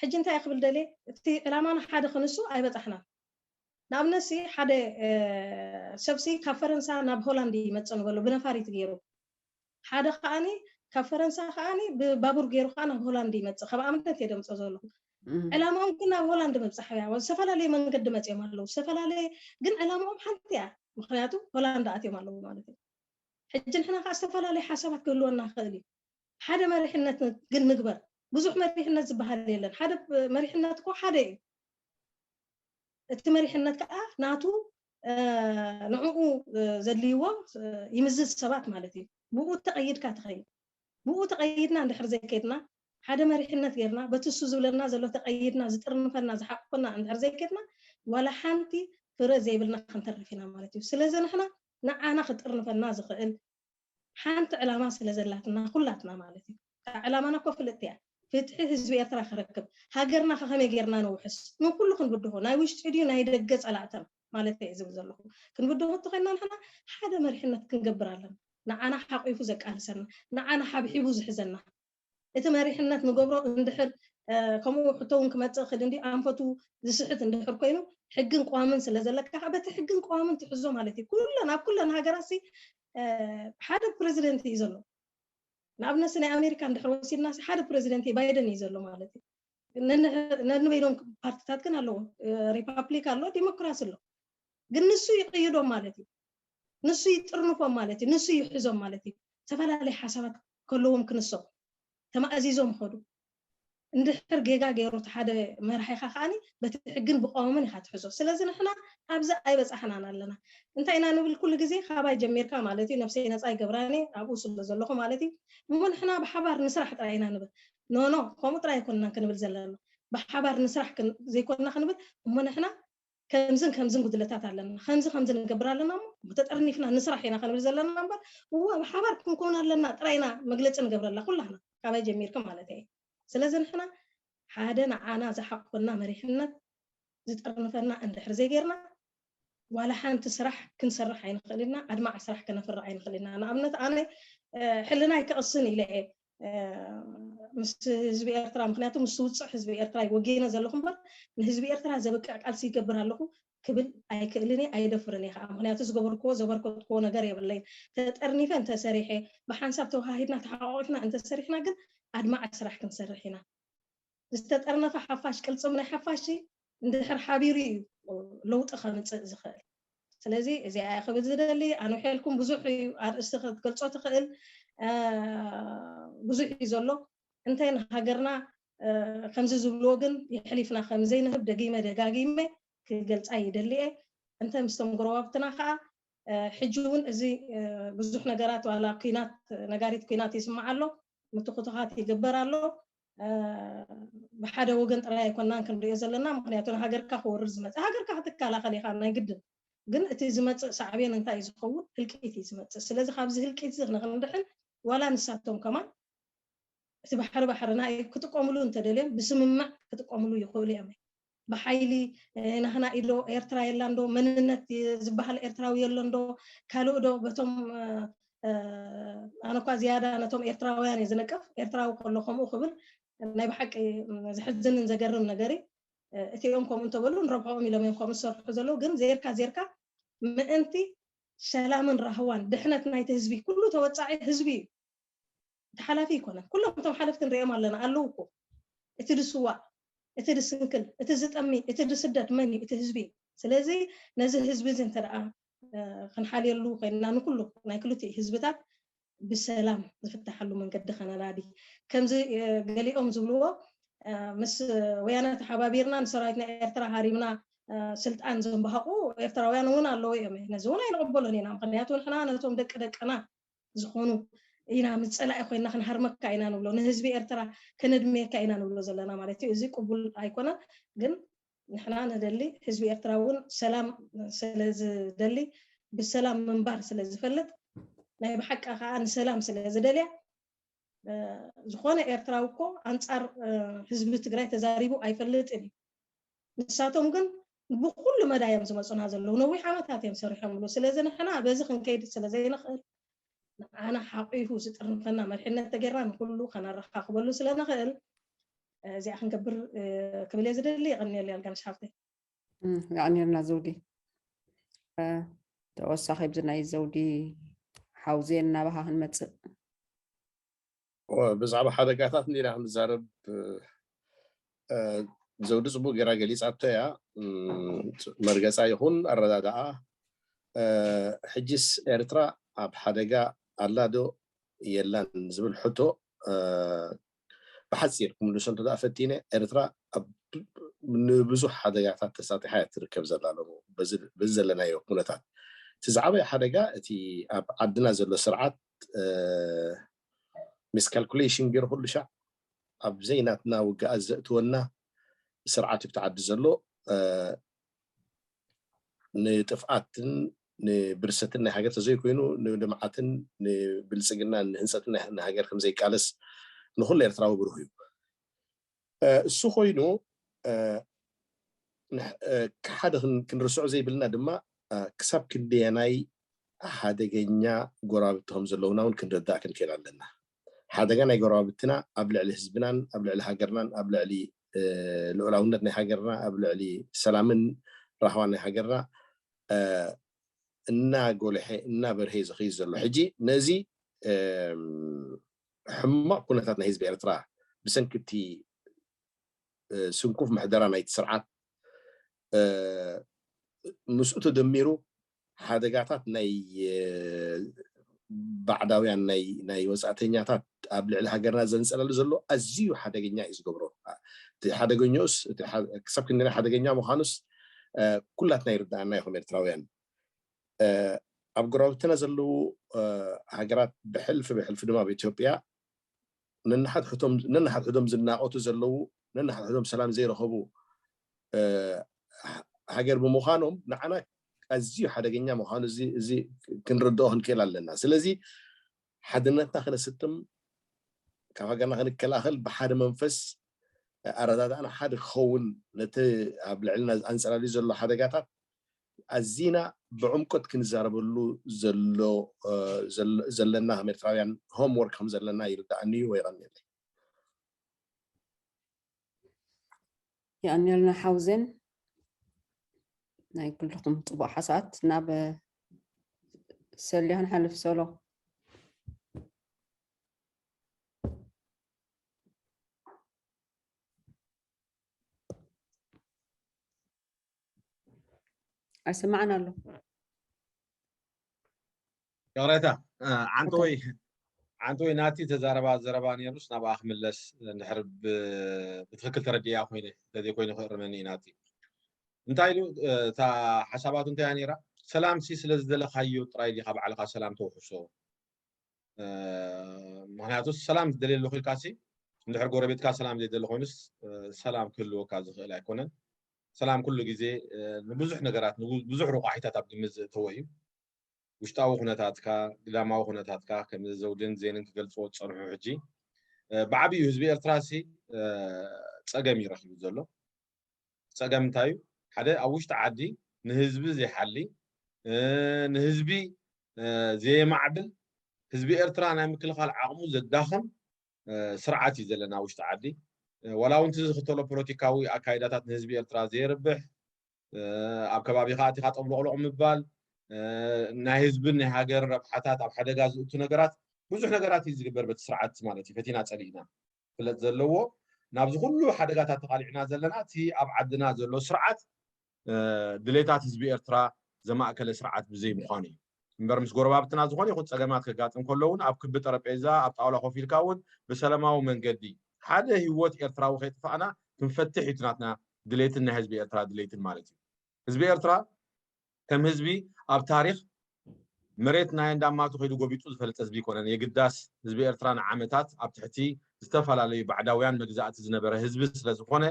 ሕጂ እንታይ ክብል ደልየ እቲ ዕላማና ሓደ ክንሱ ኣይበጻሕናን ንኣብነት ሲ ሓደ ሰብሲ ካብ ፈረንሳ ናብ ሆላንድ ይመጽእ ንበሎ ብነፋሪት ጌሩ ሓደ ከኣ ካብ ፈረንሳ ከኣ ብባቡር ጌሩ ከኣ ናብ ሆላንድ ይመጽእ ካብ ኣምነት እየ ደምጾ ዘለኩ ዕላማኦም ግን ናብ ሆላንድ ምብጻሕ እያ ዝተፈላለየ መንገዲ መጽዮም ኣለዉ ዝተፈላለየ ግን ዕላማኦም ሓንቲ እያ ምክንያቱ ሆላንድ ኣትዮም ኣለዉ ማለት እዩ ሕጂ ንሕና ከኣ ዝተፈላለየ ሓሳባት ክህልወና ክእል እዩ ሓደ መሪሕነት ግን ንግበር ብዙሕ መሪሕነት ዝበሃል የለን ሓደ መሪሕነት እኮ ሓደ እዩ እቲ መሪሕነት ከኣ ናቱ ንዕኡ ዘድልይዎ ይምዝዝ ሰባት ማለት እዩ ብኡ ተቀይድካ ትከይድ ብኡ ተቀይድና እንድሕር ዘይከድና ሓደ መሪሕነት ገርና በቲ እሱ ዝብለና ዘሎ ተቀይድና ዝጥርንፈና ዝሓቁፈና እንድሕር ዘይከድና ዋላ ሓንቲ ፍረ ዘይብልና ክንተርፍ ኢና ማለት እዩ ስለዚ ንሕና ንዓና ክጥርንፈና ዝክእል ሓንቲ ዕላማ ስለ ዘላትና ኩላትና ማለት እዩ ካኣ ዕላማና እኮ ፍልጥቲ እያ ፍትሒ ህዝቢ ኤርትራ ክረክብ ሃገርና ከ ከመይ ጌርና ንውሕስ ንኩሉ ክንብድሆ ናይ ውሽጢ ድዩ ናይ ደገ ጸላእተን ማለተይ እየ ዝብል ዘለኩ ክንብድሆ እንተኮይና ንሕና ሓደ መሪሕነት ክንገብር ኣለና ንዓና ሓቂፉ ዘቃልሰና ንዓና ሓብሒቡ ዝሕዘና እቲ መሪሕነት ንገብሮ እንድሕር ከምኡ ሕቶ ውን ክመጽእ ክድ እንድዩ ኣንፈቱ ዝስሕት እንድሕር ኮይኑ ሕግን ቅዋምን ስለ ዘለካ ከኣ በቲ ሕግን ቅዋምን ትሕዞ ማለት እዩ ኩለን ኣብ ኩለን ሃገራት ሲ ሓደ ፕረዚደንት እዩ ዘሎ ንኣብነት ሲ ናይ ኣሜሪካ እንድሕር ወሲድና ሲ ሓደ ፕረዚደንት እዩ ባይደን እዩ ዘሎ ማለት እዩ ነንበይኖም ፓርትታት ግን ኣለዎ ሪፓብሊክ ኣሎ ዲሞክራሲ ኣሎ ግን ንሱ ይቕይዶም ማለት እዩ ንሱ ይጥርንፎም ማለት እዩ ንሱ ይሕዞም ማለት እዩ ዝተፈላለየ ሓሳባት ከለዎም ክንሶ ተማእዚዞም ይኸዱ እንድሕር ጌጋ ገይሩ እቲ ሓደ መራሒኻ ከዓኒ በቲ ሕግን ብቀዋምን ኢኻ ትሕዞ ስለዚ ንሕና ኣብዚ ኣይበጻሕናን ኣለና እንታይ ኢና ንብል ኩሉ ግዜ ካባይ ጀሚርካ ማለት እዩ ነብሰይ ነጻ ይገብራን እየ ኣብኡ ስለ ዘለኹ ማለት እዩ እሞ ንሕና ብሓባር ንስራሕ ጥራይ ኢና ንብል ኖኖ ከምኡ ጥራይ ኣይኮንናን ክንብል ዘለና ብሓባር ንስራሕ ዘይኮንና ክንብል እሞ ንሕና ከምዝን ከምዝን ጉድለታት ኣለና ከምዚ ከምዚ ንገብር ኣለና እሞ ተጠርኒፍና ንስራሕ ኢና ክንብል ዘለና እምበር እዋ ብሓባር ክንኮን ኣለና ጥራይ ኢና መግለፂ ንገብረላ ኩላህና ካባይ ጀሚርኪ ማለት እየ ስለዚ ንሕና ሓደ ንዓና ዝሓቁፈና መሪሕነት ዝጠርንፈና እንድሕር ዘይጌርና ዋላ ሓንቲ ስራሕ ክንሰርሕ ኣይንኽእል ኢና ኣድማዒ ስራሕ ከነፍርዕ ኣይንኽእል ኢና ንኣብነት ኣነ ሕልናይ ክቕስን ኢለ እየ ምስ ህዝቢ ኤርትራ ምክንያቱ ምስ ውፅዕ ህዝቢ ኤርትራ ወጊነ ዘለኹ እምበር ንህዝቢ ኤርትራ ዘብቅዕ ቃልሲ ይገብር ኣለኹ ክብል ኣይክእልን እየ ኣየደፍርን እየ ከዓ ምክንያቱ ዝገበርክዎ ዘበርከትክዎ ነገር የብለይን ተጠርኒፈ እንተሰሪሐ ብሓንሳብ ተወሃሂድና ተሓቋቒፍና እንተሰሪሕና ግን ኣድማዒ ስራሕ ክንሰርሕ ኢና ዝተጠርነፈ ሓፋሽ ቅልጽም ናይ ሓፋሽ እንድሕር ሓቢሩ እዩ ለውጢ ከምጽእ ዝኽእል ስለዚ እዚኣ እየ ክብል ዝደሊ ኣንውሐልኩም ብዙሕ እዩ ኣርእስቲ ክትገልጾ ትኽእል ብዙሕ እዩ ዘሎ እንታይ ንሃገርና ከምዚ ዝብልዎ ግን የሕሊፍና ከምዘይንህብ ደጊመ ደጋጊመ ክገልጻ ይደሊ እየ እንተ ምስቶም ጎረባብትና ከዓ ሕጂ እውን እዚ ብዙሕ ነገራት ዋላ ኩናት ነጋሪት ኩናት ይስማዕ ኣሎ ምትኹታኻት ይግበር ኣሎ ብሓደ ወገን ጥራይ ኣይኮናን ክንሪኦ ዘለና ምኽንያቱ ንሃገርካ ክወርር ዝመጸ ሃገርካ ክትከላኸል ኢኻ ናይ ግድን ግን እቲ ዝመጽእ ሳዕቤን እንታይ እዩ ዝኸውን ህልቂት እዩ ዝመጽእ ስለዚ ካብዚ ህልቂት እዚ ንኽንድሕን ዋላ ንሳቶም ከማን እቲ ባሕሪ ባሕርና እዩ ክጥቀምሉ እንተደልዮም ብስምምዕ ክጥቀምሉ ይኽእሉ እዮም ብሓይሊ ናህና ኢዶ ኤርትራ የላን ዶ መንነት ዝባሃል ኤርትራዊ የሎን ዶ ካልእ ዶ በቶም ኣነ እኳ ዝያዳ ነቶም ኤርትራውያን እየ ዝንቅፍ ኤርትራዊ ከሎ ከምኡ ክብል ናይ ብሓቂ ዘሕዝንን ዘገርም ነገር እዩ እቲኦም ከምኡ እንተበሉ ንረብሖኦም ኢሎም እዮም ከምኡ ዝሰርሑ ዘለዉ ግን ዜርካ ዜርካ ምእንቲ ሰላምን ራህዋን ድሕነት ናይቲ ህዝቢ ኩሉ ተወጻዒ ህዝቢ እዩ እቲ ሓላፊ ኣይኮነን ኩሎም እቶም ሓለፍቲ ንሪኦም ኣለና ኣለዉ እኮ እቲ ድስዋእ እቲ ድስንክል እቲ ዝጠሚ እቲ ድስደድ መን እዩ እቲ ህዝቢ እዩ ስለዚ ነዚ ህዝቢ እዚ እንተ ክንሓልየሉ ኮይንና ንኩሉ ናይ ክልቲኡ ህዝብታት ብሰላም ዝፍታሓሉ መንገዲ ከነናዲ ከምዚ ገሊኦም ዝብልዎ ምስ ወያነ ተሓባቢርና ንሰራዊት ናይ ኤርትራ ሃሪምና ስልጣን ዘንባሃቑ ኤርትራውያን እውን ኣለዉ እዮም ነዚ እውን ኣይንቕበሎን ኢና ምክንያቱ ንሕና ነቶም ደቂ ደቅና ዝኾኑ ኢና ምስ ጸላኢ ኮይና ክንሃርመካ ኢና ንብሎ ንህዝቢ ኤርትራ ከነድምየካ ኢና ንብሎ ዘለና ማለት እዩ እዚ ቅቡል ኣይኮነን ግን ንሕና ንደሊ ህዝቢ ኤርትራ እውን ሰላም ስለ ዝደሊ ብሰላም ምንባር ስለ ዝፈልጥ ናይ ብሓቂ ከዓ ንሰላም ስለ ዝደልያ ዝኾነ ኤርትራዊ እኮ ኣንጻር ህዝቢ ትግራይ ተዛሪቡ ኣይፈልጥን እዩ ንሳቶም ግን ብኹሉ መዳይ እዮም ዝመጹና ዘለዉ ነዊሕ ዓመታት እዮም ሰሪሖምሉ ስለዚ ንሕና በዚ ክንከይድ ስለ ዘይንኽእል ንዓና ሓቒፉ ዝጥርንፈና መሪሕነት ተገይርና ንኹሉ ከነረኻኽበሉ ስለ ንኽእል እዚኣ ክንገብር ክብል እየ ዝደሊ የቐንየሉ ያልጋነሽ ሃብተይ የቐንየልና ዘውዲ ተወሳኺ ብዚ ናይ ዘውዲ ሓውዜ እናባኻ ክንመፅእ ብዛዕባ ሓደጋታት እንዲና ክንዛረብ ዘውዲ ፅቡቅ ገይራ ገሊፃቶ እያ መርገፃ ይኹን ኣረዳድኣ ሕጂስ ኤርትራ ኣብ ሓደጋ ኣላ ዶ የላን ዝብል ሕቶ ብሓፂር ክምልሶ እንተ ፈቲነ ኤርትራ ንብዙሕ ሓደጋታት ተሳጢሓ እያ ትርከብ ዘላ ሎሚ በዚ ዘለናዮ ኩነታት እቲ ዝዓበየ ሓደጋ እቲ ኣብ ዓድና ዘሎ ስርዓት ሚስካልኩሌሽን ገይሩ ኩሉ ሻዕ ኣብ ዘይናትና ውግኣት ዘእትወና ስርዓት እብቲ ዓዲ ዘሎ ንጥፍኣትን ንብርሰትን ናይ ሃገር ተዘይኮይኑ ንልምዓትን ንብልፅግናን ንህንፀትን ናይ ሃገር ከምዘይቃለስ ንኩሉ ኤርትራዊ ብሩህ እዩ እሱ ኮይኑ ሓደ ክንርስዖ ዘይብልና ድማ ክሳብ ክንደየናይ ሓደገኛ ጎረባብቲ ከም ዘለዉና እውን ክንርዳእ ክንክእል ኣለና። ሓደጋ ናይ ጎረባብትና ኣብ ልዕሊ ህዝብናን ኣብ ልዕሊ ሃገርናን ኣብ ልዕሊ ልኡላውነት ናይ ሃገርና ኣብ ልዕሊ ሰላምን ራህዋን ናይ ሃገርና እናጎልሐ እናበርሀ እዩ ዝኸይድ ዘሎ። ሕጂ ነዚ ሕማቕ ኩነታት ናይ ህዝቢ ኤርትራ ብሰንኪ እቲ ስንኩፍ ምሕደራ ናይቲ ስርዓት ምስኡ ተደሚሩ ሓደጋታት ናይ ባዕዳውያን ናይ ወጻእተኛታት ኣብ ልዕሊ ሃገርና ዘንጸለሉ ዘሎ ኣዝዩ ሓደገኛ እዩ ዝገብሮ እቲ ሓደገኛኡስ ክሳብ ክንደና ሓደገኛ ምዃኑስ ኩላትና ይርድኣና ይኹን ኤርትራውያን ኣብ ጎረባብትና ዘለዉ ሃገራት ብሕልፊ ብሕልፊ ድማ ኣብ ኢትዮጵያ ነንሓድሕዶም ዝናቖቱ ዘለዉ ነንሓድሕዶም ሰላም ዘይረኸቡ ሃገር ብምዃኖም ንዓና ኣዝዩ ሓደገኛ ምዃኑ እዚ ክንርድኦ ክንክእል ኣለና ስለዚ ሓድነትና ክነስጥም ካብ ሃገርና ክንከላኸል ብሓደ መንፈስ ኣረዳድኣና ሓደ ክኸውን ነቲ ኣብ ልዕልና ኣንጸላልዩ ዘሎ ሓደጋታት ኣዚና ብዕምቆት ክንዛረበሉ ዘለና ከም ኤርትራውያን ሆም ወርክ ከም ዘለና ይርድኣኒ እዩ። የቐንየለይ። የቐንየልና ሓውዜን ናይ ኩልኹም ፅቡቅ ሓሳባት ናብ ሰልያ ክንሓልፍ ሰሎ ኣይስማዕን ኣሎ ይቕሬታ ዓንተወይ ዓንተወይ ናቲ ተዛረባ ዘረባ ነይሩስ ናብኣ ክምለስ ንድሕር ብትክክል ተረዲያ ኮይነ እንተዘይኮይኑ ክእርመኒ እዩ ናቲ እንታይ ኢሉ እታ ሓሳባቱ እንታይያ ነይራ ሰላም ሲ ስለ ዝደለካዮ ጥራይ ዲካ ባዕልካ ሰላም ተውሕሶ ምክንያቱ ሰላም ዝደልየ ኣለኩ ኢልካ ሲ እንድሕር ጎረቤትካ ሰላም ዘይደሊ ኮይኑስ ሰላም ክህልወካ ዝኽእል ኣይኮነን ሰላም ኩሉ ግዜ ንብዙሕ ነገራት ንብዙሕ ሮቋሒታት ኣብ ግምት ዘእተወ እዩ። ውሽጣዊ ኩነታትካ፣ ግዳማዊ ኩነታትካ ከምዚ ዘውድን ዜንን ክገልጽዎ ዝጸንሑ ሕጂ ብዓቢኡ ህዝቢ ኤርትራሲ ጸገም እዩ ረኪቡ ዘሎ። ጸገም እንታይ እዩ ሓደ ኣብ ውሽጢ ዓዲ ንህዝቢ ዘይሓሊ ንህዝቢ ዘየማዕብል ህዝቢ ኤርትራ ናይ ምክልኻል ዓቕሙ ዘዳኽም ስርዓት እዩ ዘለና ኣብ ውሽጢ ዓዲ። ዋላ እውን እቲ ዝኽተሎ ፖለቲካዊ ኣካይዳታት ንህዝቢ ኤርትራ ዘየርብሕ፣ ኣብ ከባቢኻ ኣቲኻ ጠብሎቕሎቕ ምባል፣ ናይ ህዝብን ናይ ሃገርን ረብሓታት ኣብ ሓደጋ ዝእቱ ነገራት ብዙሕ ነገራት እዩ ዝግበር በቲ ስርዓት ማለት እዩ። ፈቲና ጸሊእና ክፍለጥ ዘለዎ ናብዚ ኩሉ ሓደጋታት ተቓሊዕና ዘለና እቲ ኣብ ዓድና ዘሎ ስርዓት ድሌታት ህዝቢ ኤርትራ ዘማእከለ ስርዓት ብዘይ ምዃኑ እዩ። እምበር ምስ ጎረባብትና ዝኾነ ይኹን ጸገማት ከጋጥም ከሎ እውን ኣብ ክቢ ጠረጴዛ ኣብ ጣውላ ኮፍ ኢልካ እውን ብሰለማዊ መንገዲ ሓደ ህይወት ኤርትራዊ ከይጥፋእና ክንፈትሕ እዩ ናትና ድሌትን ናይ ህዝቢ ኤርትራ ድሌትን ማለት እዩ። ህዝቢ ኤርትራ ከም ህዝቢ ኣብ ታሪኽ መሬት ናይ እንዳማቱ ከይዱ ጎቢጡ ዝፈልጥ ህዝቢ ይኮነን። የግዳስ ህዝቢ ኤርትራ ንዓመታት ኣብ ትሕቲ ዝተፈላለዩ ባዕዳውያን መግዛእቲ ዝነበረ ህዝቢ ስለዝኾነ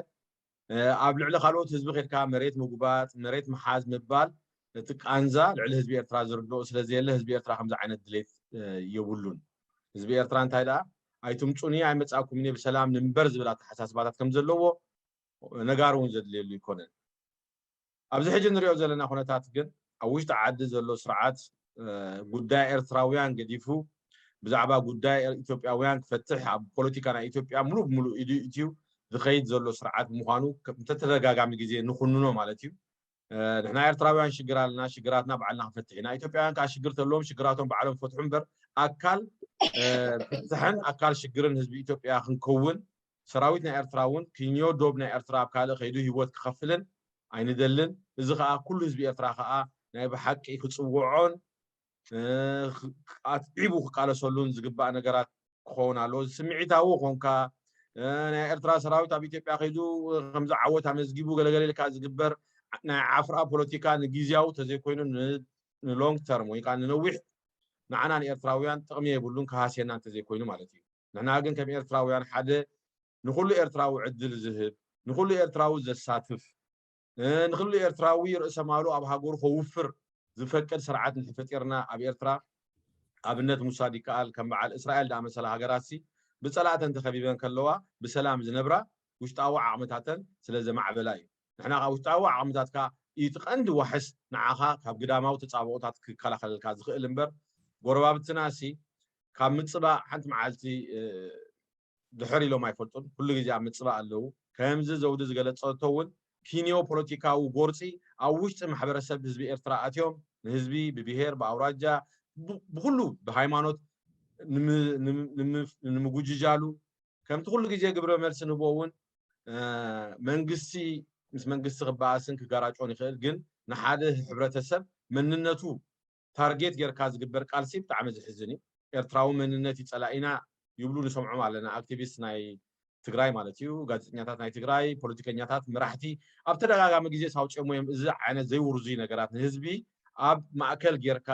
ኣብ ልዕሊ ካልኦት ህዝቢ ከድካ መሬት ምጉባጥ መሬት ምሓዝ ምባል እቲ ቃንዛ ልዕሊ ህዝቢ ኤርትራ ዝርድኦ ስለዘየለ ህዝቢ ኤርትራ ከምዚ ዓይነት ድሌት የብሉን ህዝቢ ኤርትራ እንታይ ደኣ ኣይትምጹኒ ኣይመጻእኩምን ብሰላም ንንበር ዝብል ኣተሓሳስባታት ከምዘለዎ ነጋሪ እውን ዘድልየሉ ኣይኮነን ኣብዚ ሕጂ ንሪኦ ዘለና ኩነታት ግን ኣብ ውሽጢ ዓዲ ዘሎ ስርዓት ጉዳይ ኤርትራውያን ገዲፉ ብዛዕባ ጉዳይ ኢትዮጵያውያን ክፈትሕ ኣብ ፖለቲካ ናይ ኢትዮጵያ ሙሉእ ብሙሉእ ኢዱ ኢትዩ ዝኸይድ ዘሎ ስርዓት ምዃኑ ተተደጋጋሚ ግዜ ንኹንኖ ማለት እዩ። ንሕና ኤርትራውያን ሽግር ኣለና፣ ሽግራትና ባዕልና ክንፈትሕ ኢና። ኢትዮጵያውያን ከዓ ሽግር ተለዎም ሽግራቶም ባዕሎም ክፈትሑ እምበር ኣካል ፍትሕን ኣካል ሽግርን ህዝቢ ኢትዮጵያ ክንከውን ሰራዊት ናይ ኤርትራ ውን ክኝዮ ዶብ ናይ ኤርትራ ኣብ ካልእ ከይዱ ሂወት ክኸፍልን ኣይንደልን እዚ ከኣ ኩሉ ህዝቢ ኤርትራ ከኣ ናይ ብሓቂ ክጽውዖን ኣትዒቡ ክቃለሰሉን ዝግባእ ነገራት ክኸውን ኣለዎ እዚ ስምዒታዊ ኮንካ ናይ ኤርትራ ሰራዊት ኣብ ኢትዮጵያ ከይዱ ከምዚ ዓወት ኣመዝጊቡ ገለገለ ኢልካ ዝግበር ናይ ዓፍራ ፖለቲካ ንግዝያዊ ተዘይኮይኑ ንሎንግ ተርም ወይ ከዓ ንነዊሕ ንዓና ንኤርትራውያን ጥቕሚ የብሉን ክሃስየና እንተዘይኮይኑ ማለት እዩ ንሕና ግን ከም ኤርትራውያን ሓደ ንኹሉ ኤርትራዊ ዕድል ዝህብ ንኹሉ ኤርትራዊ ዘሳትፍ ንኹሉ ኤርትራዊ ርእሰ ማሉ ኣብ ሃገሩ ከውፍር ዝፈቅድ ስርዓት እንተፈጢርና ኣብ ኤርትራ ኣብነት ምውሳድ ይከኣል ከም በዓል እስራኤል ዝኣመሰላ ሃገራትሲ ብጸላእተን ተኸቢበን ከለዋ ብሰላም ዝነብራ ውሽጣዊ ዓቕምታተን ስለ ዘማዕበላ እዩ ንሕና ካብ ውሽጣዊ ዓቕምታትካ እቲ ቀንዲ ዋሕስ ንዓኻ ካብ ግዳማዊ ተጻብኦታት ክከላኸለልካ ዝኽእል እምበር ጎረባብትና ሲ ካብ ምፅባእ ሓንቲ መዓልቲ ድሕር ኢሎም ኣይፈልጡን ኩሉ ግዜ ኣብ ምፅባእ ኣለዉ ከምዚ ዘውዲ ዝገለፀቶ እውን ኪንዮ ፖለቲካዊ ጎርፂ ኣብ ውሽጢ ማሕበረሰብ ህዝቢ ኤርትራ ኣትዮም ንህዝቢ ብብሄር ብኣውራጃ ብኩሉ ብሃይማኖት ንምጉጅጃሉ ከምቲ ኩሉ ግዜ ግብረ መልሲ ንቦ እውን መንግስቲ ምስ መንግስቲ ክበኣስን ክጋራጮን ይኽእል ግን ንሓደ ሕብረተሰብ መንነቱ ታርጌት ጌርካ ዝግበር ቃልሲ ብጣዕሚ ዝሕዝን እዩ ኤርትራዊ መንነት እዩ ጸላኢና ይብሉ ንሰምዖም ኣለና ኣክቲቪስት ናይ ትግራይ ማለት እዩ ጋዜጠኛታት ናይ ትግራይ ፖለቲከኛታት መራሕቲ ኣብ ተደጋጋሚ ግዜ ሳውፅዮሞ እዮም እዚ ዓይነት ዘይውርዙይ ነገራት ንህዝቢ ኣብ ማእከል ጌርካ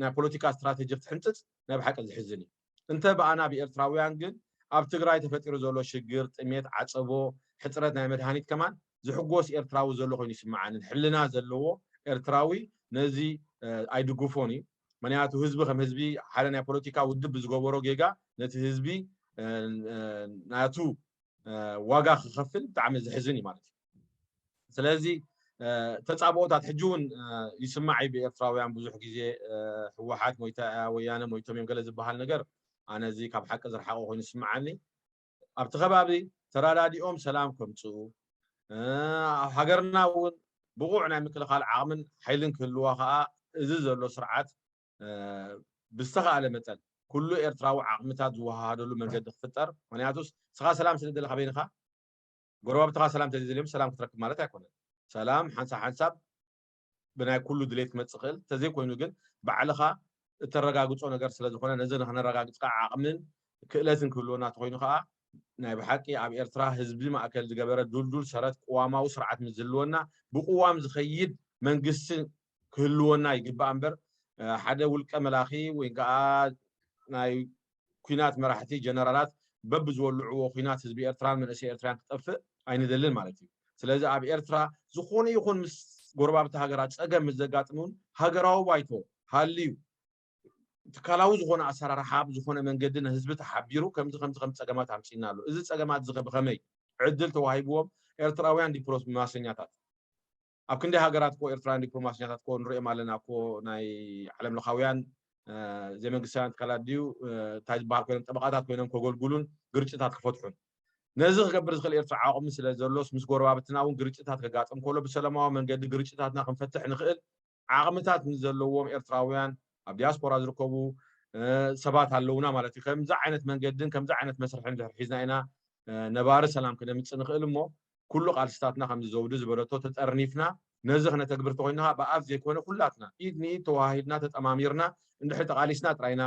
ናይ ፖለቲካ ስትራቴጂ ክትሕንፅፅ ናይ ብሓቂ ዝሕዝን እዩ እንተ ብኣና ብኤርትራውያን ግን ኣብ ትግራይ ተፈጢሩ ዘሎ ሽግር፣ ጥሜት፣ ዓጸቦ፣ ሕጽረት ናይ መድሃኒት ከማን ዝሕጎስ ኤርትራዊ ዘሎ ኮይኑ ኣይስምዓንን። ሕልና ዘለዎ ኤርትራዊ ነዚ ኣይድግፎን እዩ። ምክንያቱ ህዝቢ ከም ህዝቢ ሓደ ናይ ፖለቲካ ውድብ ብዝገበሮ ጌጋ ነቲ ህዝቢ ናቱ ዋጋ ክኸፍል ብጣዕሚ ዘሕዝን እዩ ማለት እዩ። ስለዚ ተጻብኦታት ሕጂ እውን ይስማዕ እዩ ብኤርትራውያን ብዙሕ ግዜ ህወሓት ሞይታ እያ ወያነ ሞይቶም እዮም ገለ ዝበሃል ነገር ኣነ እዚ ካብ ሓቂ ዝረሓቐ ኮይኑ ይስምዓኒ ኣብቲ ከባቢ ተረዳዲኦም ሰላም ከምፅኡ ኣብ ሃገርና እውን ብቑዕ ናይ ምክልኻል ዓቕምን ሓይልን ክህልዋ ከዓ እዚ ዘሎ ስርዓት ብዝተኸኣለ መጠን ኩሉ ኤርትራዊ ዓቕምታት ዝወሃሃደሉ መንገዲ ክፍጠር ምክንያቱስ ስኻ ሰላም ስለደለኻ በይንኻ ጎረባብትኻ ሰላም እንተዘይደልዮም ሰላም ክትረክብ ማለት ኣይኮነን። ሰላም ሓንሳብ ሓንሳብ ብናይ ኩሉ ድሌት ክመፅእ ይኽእል እንተዘይኮይኑ ግን ባዕልኻ እተረጋግፆ ነገር ስለ ዝኾነ ነዚ ንክነረጋግፅ ከዓ ዓቕምን ክእለትን ክህልወና ተኮይኑ ከዓ ናይ ብሓቂ ኣብ ኤርትራ ህዝቢ ማእከል ዝገበረ ዱልዱል ሰረት ቅዋማዊ ስርዓት ምስ ዝህልወና ብቅዋም ዝኸይድ መንግስቲ ክህልወና ይግባእ እምበር ሓደ ውልቀ መላኺ ወይ ከዓ ናይ ኩናት መራሕቲ ጀነራላት በብ ዝወልዕዎ ኩናት ህዝቢ ኤርትራን መንእሰይ ኤርትራን ክጠፍእ ኣይንደልን ማለት እዩ። ስለዚ ኣብ ኤርትራ ዝኾነ ይኹን ምስ ጎረባብቲ ሃገራት ጸገም ምስ ዘጋጥም እውን ሃገራዊ ባይቶ ሃልዩ ትካላዊ ዝኾነ ኣሰራርሓ ብዝኾነ መንገዲ ንህዝቢ ተሓቢሩ ከምዚ ከምዚ ከም ጸገማት ኣምጺና ኣሎ እዚ ጸገማት እዚ ብኸመይ ዕድል ተዋሂብዎም ኤርትራውያን ዲፕሎማሰኛታት ኣብ ክንደይ ሃገራት እኮ ኤርትራውያን ዲፕሎማሰኛታት እኮ ንርእዮም ኣለና እኮ ናይ ዓለም ለኻውያን ዘይመንግስታውያን ትካላት ድዩ እንታይ ዝበሃል ኮይኖም ጠበቓታት ኮይኖም ከገልግሉን ግርጭታት ክፈትሑን ነዚ ክገብር ዝኽእል ኤርትራ ዓቕሚ ስለ ዘሎስ ምስ ጎረባብትና እውን ግርጭታት ከጋጥም ከሎ ብሰላማዊ መንገዲ ግርጭታትና ክንፈትሕ ንኽእል ዓቕምታት ንዘለዎም ኤርትራውያን ኣብ ዲያስፖራ ዝርከቡ ሰባት ኣለውና ማለት እዩ ከምዚ ዓይነት መንገድን ከምዚ ዓይነት መስርሕን ድሕር ሒዝና ኢና ነባሪ ሰላም ክነምፅእ ንኽእል እሞ ኩሉ ቃልስታትና ከምዚ ዘውዲ ዝበለቶ ተጠርኒፍና ነዚ ክነተግብር ተኾይንና ከኣ ብኣፍ ዘይኮነ ኩላትና ኢድ ንኢድ ተወሃሂድና ተጠማሚርና እንድሕሪ ተቃሊስና ጥራይና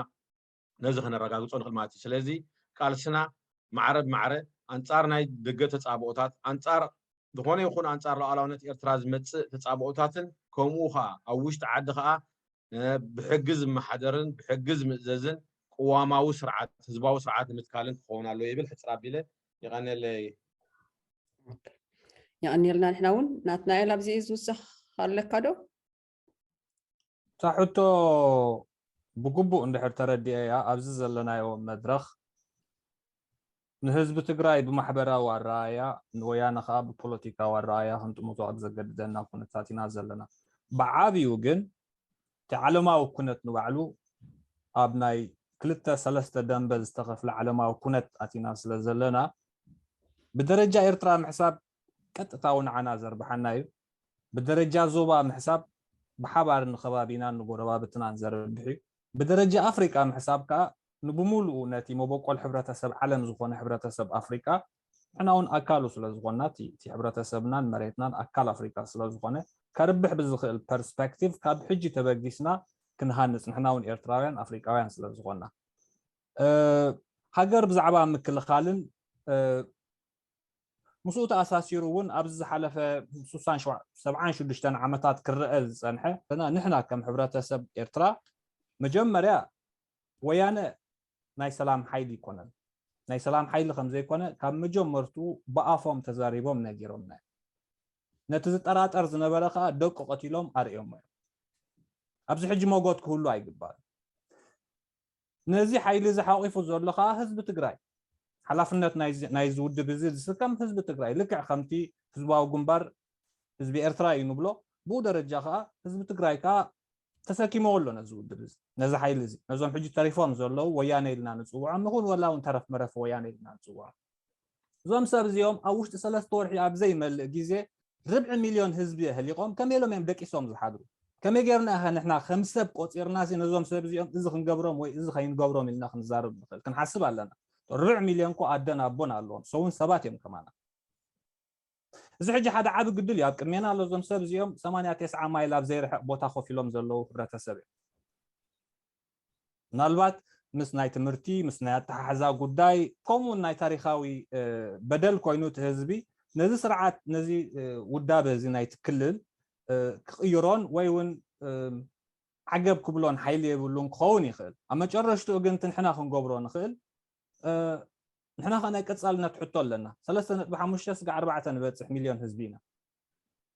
ነዚ ከነረጋግጾ ንኽእል ማለት እዩ። ስለዚ ቃልስና ማዕረ ብማዕረ ኣንጻር ናይ ደገ ተጻብኦታት ኣንጻር ዝኾነ ይኹን ኣንጻር ሉዓላውነት ኤርትራ ዝመጽእ ተጻብኦታትን ከምኡ ከኣ ኣብ ውሽጢ ዓዲ ከኣ ብሕጊ ዝመሓደርን ብሕጊ ዝምእዘዝን ቅዋማዊ ስርዓት ህዝባዊ ስርዓት ንምትካልን ክኸውን ኣለዎ ይብል ሕጽር ኣቢለ ይቀነለይ የቀኒልና ንሕና እውን ናትናኤል ኣብዚ እዩ ዝውሰኽ ኣለካ ዶ እታ ሕቶ ብግቡእ እንድሕር ተረዲኤያ ኣብዚ ዘለናዮ መድረኽ ንህዝቢ ትግራይ ብማሕበራዊ ኣረኣእያ ንወያነ ከዓ ብፖለቲካዊ ኣረኣእያ ክንጥምቶ ኣብ ዘገድደና ኩነታት ኢና ዘለና ብዓብዩ ግን እቲ ዓለማዊ ኩነት ንባዕሉ ኣብ ናይ ክልተ ሰለስተ ደምበ ዝተኸፍለ ዓለማዊ ኩነት ኣቲና ስለዘለና ብደረጃ ኤርትራ ምሕሳብ ቀጥታዊ ንዓና ዘርብሓና እዩ። ብደረጃ ዞባ ምሕሳብ ብሓባር ንከባቢናን ንጎረባብትናን ዘርብሕ እዩ። ብደረጃ ኣፍሪቃ ምሕሳብ ከኣ ንብምሉኡ ነቲ መበቆል ሕብረተሰብ ዓለም ዝኾነ ሕብረተሰብ ኣፍሪቃ ንሕና ውን ኣካሉ ስለ ዝኾንና እቲ እቲ ሕብረተሰብናን መሬትናን ኣካል ኣፍሪቃ ስለ ዝኾነ ከርብሕ ብዝኽእል ፐርስፐክቲቭ ካብ ሕጂ ተበጊስና ክንሃንጽ ንሕና ውን ኤርትራውያን ኣፍሪቃውያን ስለ ዝኾንና ሃገር ብዛዕባ ምክልኻልን ምስኡ ተኣሳሲሩ እውን ኣብዚ ዝሓለፈ ስሳን ሰብዓን ሽዱሽተን ዓመታት ክረአ ዝፀንሐ ንሕና ከም ሕብረተሰብ ኤርትራ መጀመርያ ወያነ ናይ ሰላም ሓይሊ ኣይኮነን። ናይ ሰላም ሓይሊ ከም ዘይኮነ ካብ መጀመርትኡ ብኣፎም ተዛሪቦም ነጊሮምና እዮም። ነቲ ዝጠራጠር ዝነበረ ከኣ ደቁ ቀቲሎም ኣርእዮሞ እዮም። ኣብዚ ሕጂ መጎት ክህሉ ኣይግባእን። ነዚ ሓይሊ እዚ ሓቂፉ ዘሎ ከኣ ህዝቢ ትግራይ ሓላፍነት ናይዚ ውድብ እዚ ዝስከም ህዝቢ ትግራይ ልክዕ ከምቲ ህዝባዊ ግንባር ህዝቢ ኤርትራ እዩ ንብሎ ብኡ ደረጃ ከዓ ህዝቢ ትግራይ ከዓ ተሰኪመዎ ኣሎ ነዚ ውድብ እዚ ነዚ ሓይሊ እዚ ነዞም ሕጂ ተሪፎም ዘለዉ ወያነ ኢልና ንፅውዖም ንኹን ወላ እውን ተረፍ መረፍ ወያነ ኢልና ንፅውዖም እዞም ሰብ እዚኦም ኣብ ውሽጢ ሰለስተ ወርሒ ኣብ ዘይመልእ ግዜ ርብዒ ሚልዮን ህዝቢ የህሊቖም ከመይ ኢሎም እዮም ደቂሶም ዝሓድሩ ከመይ ጌርና ኢኸ ንሕና ከም ሰብ ቆፂርና ሲ ነዞም ሰብ እዚኦም እዚ ክንገብሮም ወይ እዚ ከይንገብሮም ኢልና ክንዛረብ ንኽእል ክንሓስብ ኣለና ርብዕ ሚልዮን እኮ ኣደን ኣቦን ኣለዎም ሰውን ሰባት እዮም ከማና እዚ ሕጂ ሓደ ዓቢ ግድል እዩ ኣብ ቅድሜና ኣሎ እዞም ሰብ እዚኦም ሰማንያ ቴስዓ ማይል ኣብ ዘይርሕቅ ቦታ ኮፍ ኢሎም ዘለዉ ሕብረተሰብ እዮም ምናልባት ምስ ናይ ትምህርቲ ምስ ናይ ኣተሓሕዛ ጉዳይ ከምኡ ውን ናይ ታሪኻዊ በደል ኮይኑ እቲ ህዝቢ ነዚ ስርዓት ነዚ ውዳበ እዚ ናይቲ ክልል ክቕይሮን ወይ ውን ዓገብ ክብሎን ሓይሊ የብሉን ክኸውን ይኽእል ኣብ መጨረሽትኡ ግን ትንሕና ክንገብሮ ንኽእል ንሕና ከኣ ናይ ቀጻልነት ሕቶ ኣለና ሰለስተ ነጥቢ ሓሙሽተ ስጋዕ ኣርባዕተ ንበጽሕ ሚልዮን ህዝቢ ኢና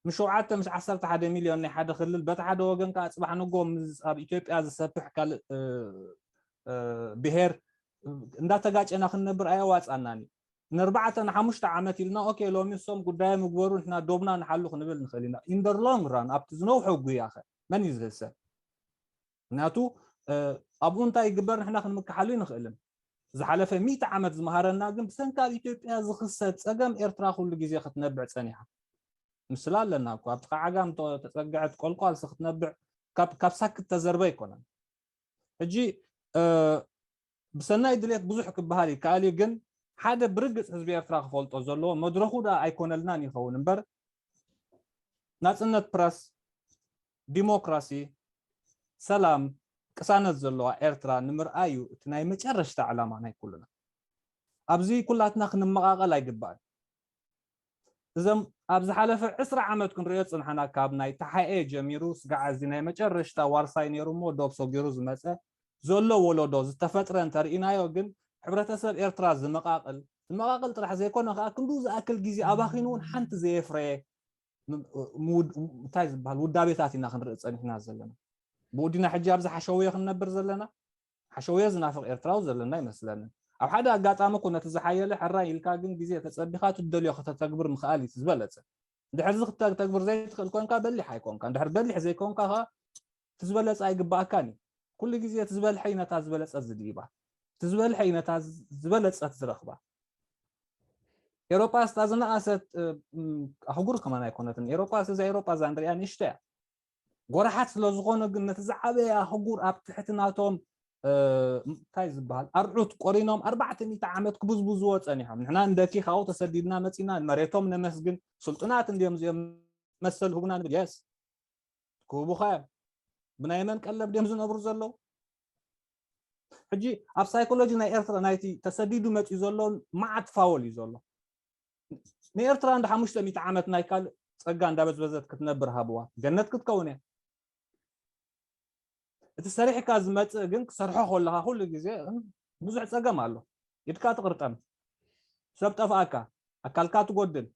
ምስ ሸውዓተ ምስ ዓሰርተ ሓደ ሚልዮን ናይ ሓደ ክልል በቲ ሓደ ወገን ከኣ ጽባሕ ንጎ ምስ ኣብ ኢትዮጵያ ዝሰፍሕ ካልእ ብሄር እንዳተጋጨና ክንነብር ኣየዋጻናን እዩ ንርባዕተ ንሓሙሽተ ዓመት ኢልና ኦኬ ሎሚ እሶም ጉዳዮም ምግበሩ ንሕና ዶብና ንሓሉ ክንብል ንኽእል ኢና ኢንደር ሎንግ ራን ኣብቲ ዝነውሐ ጉያ ኸ መን እዩ ዝህሰብ ምክንያቱ ኣብኡ እንታይ ይግበር ንሕና ክንምክሓሉ ኣይንኽእልን። ዝሓለፈ ሚእቲ ዓመት ዝመሃረና ግን ብሰንኪ ኣብ ኢትዮጵያ ዝኽሰት ጸገም ኤርትራ ኩሉ ግዜ ክትነብዕ ጸኒሓ። ምስላ ኣለና እኮ ኣብ ጥቃ ዓጋም ተጸግዐት ቆልቋልሲ ክትነብዕ ካብ ሳክት ተዘርበ ኣይኮነን። ሕጂ ብሰናይ ድሌት ብዙሕ ክበሃል ይከኣል እዩ ግን ሓደ ብርግጽ ህዝቢ ኤርትራ ክፈልጦ ዘለዎ መድረኹ ደኣ ኣይኮነልናን ይኸውን እምበር ናጽነት ፕረስ ዲሞክራሲ፣ ሰላም፣ ቅሳነት ዘለዋ ኤርትራ ንምርኣይ እዩ እቲ ናይ መጨረሽታ ዕላማ ናይ ኩሉና። ኣብዚ ኩላትና ክንመቓቐል ኣይግባእን። እዘም ኣብ ዝሓለፈ ዕስራ ዓመት ክንርእዮ ዝጽንሓና ካብ ናይ ተሓኤ ጀሚሩ ስጋዕ እዚ ናይ መጨረሽታ ዋርሳይ ነይሩ እሞ ዶብ ሰጊሩ ዝመጸ ዘሎ ወለዶ ዝተፈጥረ እንተርኢናዮ ግን ሕብረተሰብ ኤርትራ ዝመቓቕል ዝመቓቕል ጥራሕ ዘይኮነ ከኣ ክንዱ ዝኣክል ግዜ ኣባኺኑ እውን ሓንቲ ዘየፍረየ እንታይ ዝበሃል ውዳቤታት ኢና ክንርኢ ፀኒሕና ዘለና ብኡዲና ሕጂ ኣብዚ ሓሸውየ ክንነብር ዘለና ሓሸውየ ዝናፍቕ ኤርትራዊ ዘለና ይመስለኒ ኣብ ሓደ ኣጋጣሚ እኮ ነቲ ዝሓየለ ሕራይ ኢልካ ግን ግዜ ተፀቢኻ ትደልዮ ከተተግብር ምኽኣል እዩ ዝበለፀ ድሕርዚ ክተተግብር ዘይትኽእል ኮንካ በሊሕ ኣይኮንካ ድሕር በሊሕ ዘይኮንካ ኸ እቲ ዝበለፀ ኣይግባኣካን እዩ ኩሉ ግዜ እቲ ዝበልሐ እዩ ነታ ዝበለፀት ዝድይባ እቲ ዝበልሐ እዩ ነታ ዝበለፀት ዝረኽባ ኤሮጳስ እታ ዝነኣሰት ኣህጉር ከማን ኣይኮነትን ኤሮጳስ እዛ ኤሮጳ እዛ ንሪኣ ንእሽቶ እያ ጎራሓት ስለ ዝኾነ ግን ነቲ ዝዓበየ ኣህጉር ኣብ ትሕቲ ናቶም እንታይ ዝበሃል ኣርዑት ቆሪኖም ኣርባዕተ ሚእቲ ዓመት ክብዝብዝዎ ፀኒሖም ንሕና እንደኪ ካብኡ ተሰዲድና መፂና መሬቶም ነመስግን ስልጡናት እንዲዮም እዚኦም መሰል ህቡና ንብል የስ ክህቡኻ እዮም ብናይ መን ቀለብ ድዮም ዝነብሩ ዘለዉ ሕጂ ኣብ ሳይኮሎጂ ናይ ኤርትራ ናይቲ ተሰዲዱ መፅኡ ዘሎ መዓት ፋወል እዩ ዘሎ ንኤርትራ እንደ ሓሙሽተ ሚእቲ ዓመት ናይ ካልእ ጸጋ እንዳበዝበዘት ክትነብር ሃብዋ ገነት ክትከውን እያ እቲ ሰሪሕካ ዝመፅእ ግን ክሰርሖ ከለካ ኩሉ ግዜ ብዙሕ ፀገም ኣሎ ኢድካ ትቕርጠም ሰብ ጠፍኣካ ኣካልካ ትጎድል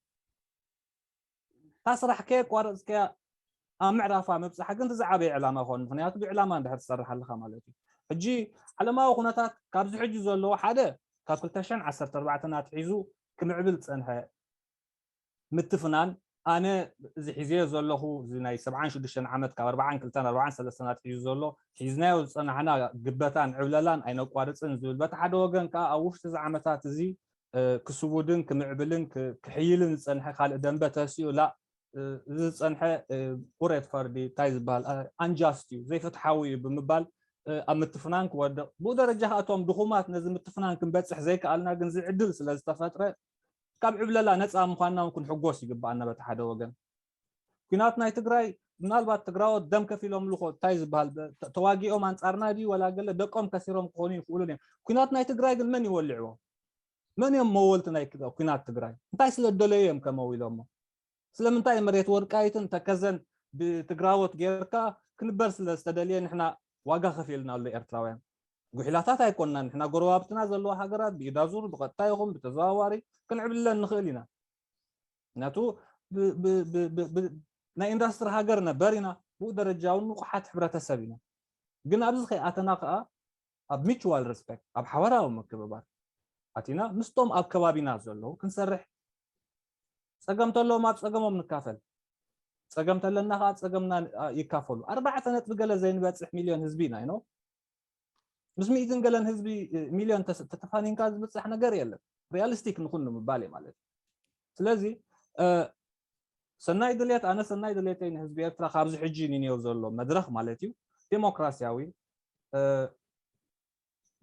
እታ ስራሕ ከየቋረጽካያ ኣብ ምዕራፋ ምብጻሕ ግን ዝዓበየ ዕላማ ይኾን ምክንያቱ ብዕላማ እንድሕር ትሰርሕ ኣለኻ ማለት እዩ ሕጂ ዓለማዊ ኩነታት ካብዚ ሕጂ ዘለዎ ሓደ ካብ 214 ኣትሒዙ ክምዕብል ዝጸንሐ ምትፍናን ኣነ እዚ ሒዘዮ ዘለኹ እዚ ናይ 76 ዓመት ካብ 42 43 ኣትሒዙ ዘሎ ሒዝናዮ ዝጸናሕና ግበታን ዕብለላን ኣይነቋርጽን ዝብል በቲ ሓደ ወገን ከዓ ኣብ ውሽጢ እዚ ዓመታት እዚ ክስውድን ክምዕብልን ክሕይልን ዝጸንሐ ካልእ ደንበ ተሲኡ ላእ እዚ ዝጸንሐ ቁሬት ፈርዲ እንታይ ዝበሃል ኣንጃስት እዩ ዘይፍትሓዊ እዩ ብምባል ኣብ ምትፍናን ክወድቕ ብኡ ደረጃ ከዓ እቶም ድኹማት ነዚ ምትፍናን ክንበፅሕ ዘይከኣልና ግን ዝዕድል ስለ ዝተፈጥረ ካብ ዕብለላ ነፃ ምዃንና እውን ክንሕጎስ ይግባኣና በቲ ሓደ ወገን ኩናት ናይ ትግራይ ምናልባት ትግራዎት ደም ከፊሎምሉ ኮ እንታይ ዝበሃል ተዋጊኦም ኣንጻርና ድዩ ወላ ገለ ደቆም ከሲሮም ክኾኑ ይኽእሉን እዮም ኩናት ናይ ትግራይ ግን መን ይወልዕዎ መን እዮም መወልቲ ናይ ኩናት ትግራይ እንታይ ስለ ደለዩ እዮም ከመው ኢሎሞ ስለምንታይ መሬት ወርቃይትን ተከዘን ብትግራዎት ጌርካ ክንበር ስለ ዝተደልየ ንሕና ዋጋ ከፊልና ኣሎ ኤርትራውያን ጉሒላታት ኣይኮንናን ንሕና ጎረባብትና ዘለዋ ሃገራት ብኢዳዙር ብቐጥታ ይኹን ብተዘዋዋሪ ክንዕብልለን ንኽእል ኢና ምክንያቱ ናይ ኢንዳስትሪ ሃገር ነበር ኢና ብኡ ደረጃ እውን ንቑሓት ሕብረተሰብ ኢና ግን ኣብዚ ከይኣተና ከዓ ኣብ ሚቹዋል ሬስፔክት ኣብ ሓበራዊ ምክብባር ኣቲና ምስቶም ኣብ ከባቢና ዘለዉ ክንሰርሕ ፀገም ተለዎም ኣብ ፀገሞም ንካፈል ፀገም ተለና ከዓ ፀገምና ይካፈሉ ኣርባዕተ ነጥቢ ገለ ዘይንበፅሕ ሚልዮን ህዝቢ ኢና ይኖ ምስ ሚእትን ገለን ህዝቢ ሚልዮን ተተፋኒንካ ዝብፃሕ ነገር የለን ሪያሊስቲክ ንኹን ንምባል እዩ ማለት እዩ ስለዚ ሰናይ ድሌት ኣነ ሰናይ ድሌተይ ንህዝቢ ኤርትራ ካብዚ ሕጂ ንንዮ ዘሎ መድረኽ ማለት እዩ ዴሞክራሲያዊ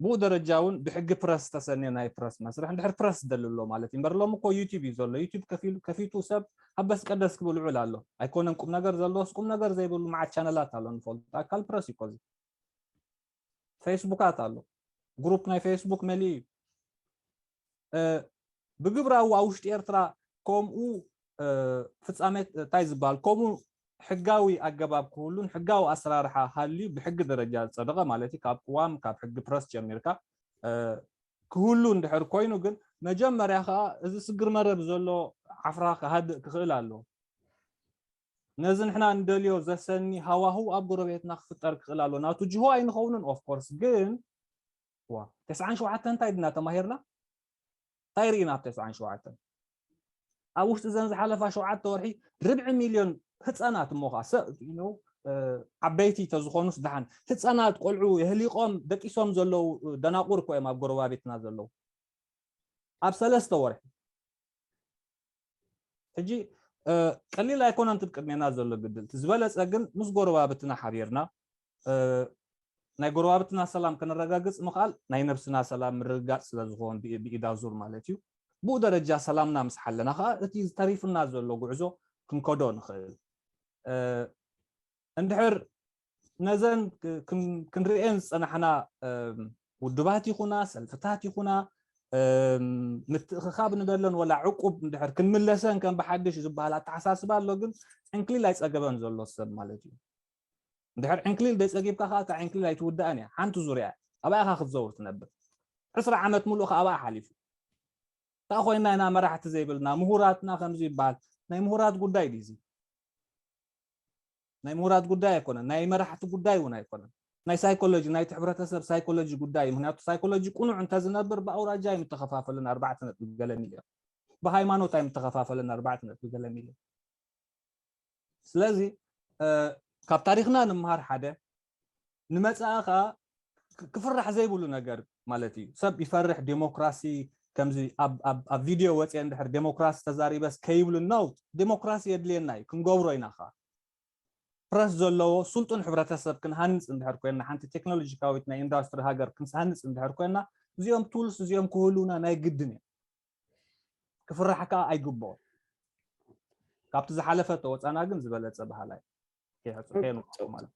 ብኡ ደረጃ እውን ብሕጊ ፕረስ ዝተሰንየ ናይ ፕረስ መስርሕ እንድሕር ፕረስ ዝደሊ ኣሎ ማለት እዩ እምበር ሎም እኮ ዩቲብ እዩ ዘሎ ዩቲብ ከፊቱ ሰብ ኣበስ ቀደስ ክብል ውዕል ኣሎ ኣይኮነን ቁም ነገር ዘለዎስ ቁም ነገር ዘይብሉ መዓት ቻነላት ኣሎ ንፈልጡ ኣካል ፕረስ እዩ ኮዚ ፌስቡካት ኣሎ ግሩፕ ናይ ፌስቡክ መሊኡ እዩ ብግብራዊ ኣብ ውሽጢ ኤርትራ ከምኡ ፍፃመ እንታይ ዝበሃል ከምኡ ሕጋዊ ኣገባብ ክህሉን ሕጋዊ ኣሰራርሓ ሃልዩ ብሕጊ ደረጃ ዝፀደቐ ማለት እዩ ካብ ቅዋም ካብ ሕጊ ፕረስ ጀሚርካ ክህሉ እንድሕር ኮይኑ ግን መጀመርያ ከዓ እዚ ስግር መረብ ዘሎ ዓፍራ ክሃድእ ክኽእል ኣለዎ ነዚ ንሕና እንደልዮ ዘሰኒ ሃዋህው ኣብ ጎረቤትና ክፍጠር ክኽእል ኣሎ ናቱ ጅሆ ኣይንኸውንን ኦፍ ኮርስ ግን ዋ ተስዓን ሸውዓተን እንታይ ድና ተማሂርና እንታይ ርኢና ኣብ ተስዓን ሸውዓተን ኣብ ውሽጢ ዘን ዝሓለፋ ሸውዓተ ወርሒ ርብዒ ሚልዮን ህፃናት እሞ ከዓ ሰብ ዓበይቲ ተዝኾኑስ ድሓን ህፃናት ቆልዑ የህሊቆም ደቂሶም ዘለዉ ደናቁር እኮ እዮም ኣብ ጎረባቤትና ዘለዉ ኣብ ሰለስተ ወርሒ ሕጂ ቀሊል ኣይኮነን እቲ ቅድሜና ዘሎ ግድል እቲ ዝበለፀ ግን ምስ ጎረባብትና ሓቢርና ናይ ጎረባብትና ሰላም ከነረጋግፅ ምኽኣል ናይ ነብስና ሰላም ምርግጋፅ ስለ ዝኾን ብኢዳዙር ማለት እዩ ብኡ ደረጃ ሰላምና ምስ ሓለና ከዓ እቲ ተሪፉና ዘሎ ጉዕዞ ክንከዶ ንኽእል እንድሕር ነዘን ክንርእየን ዝፀናሕና ውድባት ይኹና ሰልፍታት ይኹና ምትእኽኻብ ንበለን ወላ ዕቁብ እንድሕር ክንምለሰን ከም ብሓድሽ ዝበሃል ኣተሓሳስባ ኣሎ ግን ዕንክሊል ኣይፀገበን ዘሎ ሰብ ማለት እዩ እንድሕር ዕንክሊል ደይፀጊብካ ከዓ እታ ዕንክሊል ኣይትውዳእን እያ ሓንቲ ዙርያ ኣብኣ ኢኻ ክትዘውር ትነብር ዕስራ ዓመት ምሉእ ከዓ ኣብኣ ሓሊፉ እንታይ ኮይና ኢና መራሕቲ ዘይብልና ምሁራትና ከምዚ ይበሃል ናይ ምሁራት ጉዳይ ድዩ እዚ ናይ ምውራድ ጉዳይ ኣይኮነን፣ ናይ መራሕቲ ጉዳይ እውን ኣይኮነን። ናይ ሳይኮሎጂ፣ ናይቲ ሕብረተሰብ ሳይኮሎጂ ጉዳይ እዩ። ምኽንያቱ ሳይኮሎጂ ቅኑዕ እንተዝነብር ብኣውራጃ ኣይምተኸፋፈለን ኣርባዕተ ነጥቢ ገለ ሚልዮን። ብሃይማኖት ኣይምተኸፋፈለን ኣርባዕተ ነጥቢ ገለ ሚልዮን። ስለዚ ካብ ታሪኽና ንመሃር ሓደ፣ ንመጻኢ ከኣ ክፍራሕ ዘይብሉ ነገር ማለት እዩ ሰብ ይፈርሕ ዴሞክራሲ ከምዚ ኣብ ቪድዮ ወፅየ እንድሕር ዴሞክራሲ ተዛሪበስ ከይብሉ ነው ዴሞክራሲ የድልየና እዩ ክንገብሮ ኢና ከኣ ፕረስ ዘለዎ ስልጡን ሕብረተሰብ ክንሃንፅ እንድሕር ኮይና ሓንቲ ቴክኖሎጂካዊት ናይ ኢንዳስትሪ ሃገር ክንሃንፅ እንድሕር ኮይና እዚኦም ቱልስ እዚኦም ክህሉና ናይ ግድን እዮም ክፍራሕ ከዓ ኣይግብኦን ካብቲ ዝሓለፈ ተወፃና ግን ዝበለፀ ባህላ እዩ ከይሕፅሑ የንቁ ማለት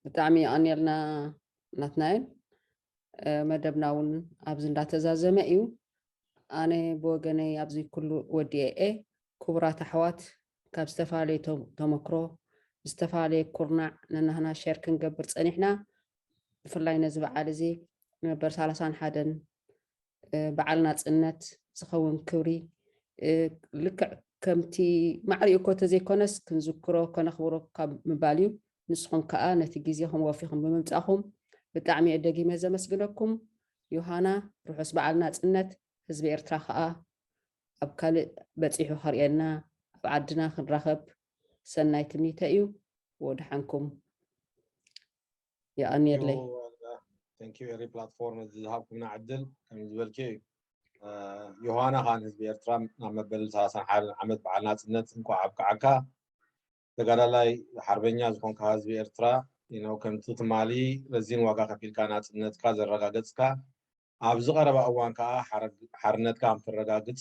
ብጣዕሚ የቐንየልና ናትናኤል መደብና እውን ኣብዚ እንዳተዛዘመ እዩ ኣነ ብወገነይ ኣብዚ ኩሉ ወዲኤ ክቡራት ኣሕዋት ካብ ዝተፈላለየ ተመክሮ ዝተፈላለየ ኩርናዕ ነናህና ሸር ክንገብር ፀኒሕና ብፍላይ ነዚ በዓል እዚ ነበር ሰላሳን ሓደን በዓል ናጽነት ዝኸውን ክብሪ ልክዕ ከምቲ ማዕሪኡ እኮ ተዘይኮነስ ክንዝክሮ ከነኽብሮ ካብ ምባል እዩ ንስኹም ከኣ ነቲ ግዜኹም ወፊኹም ብምምጻኹም ብጣዕሚ እየ ደጊመ ዘመስግነኩም ዮሃና ርሑስ በዓል ናጽነት ህዝቢ ኤርትራ ከኣ ኣብ ካልእ በጺሑ ከርእየና ኣብ ዓድና ክንራኸብ ሰናይ ትምኒተ እዩ ወድሓንኩም የቀንየለይ ቴንክ ዩ ኤሪ ፕላትፎርም እዚ ዝሃብኩምና ዕድል ከም ዝበልክዮ እዩ ዮሃና ከዓ ንህዝቢ ኤርትራ ናብ መበል ሰላሳን ሓደን ዓመት በዓል ናፅነት እንኳዕ ኣብቅዓካ ተጋዳላይ ሓርበኛ ዝኾንካ ህዝቢ ኤርትራ ነው ከምቲ ትማሊ ረዚን ዋጋ ከፊልካ ናፅነትካ ዘረጋገፅካ ኣብዚ ቀረባ እዋን ከዓ ሓርነትካ ከም ትረጋግፅ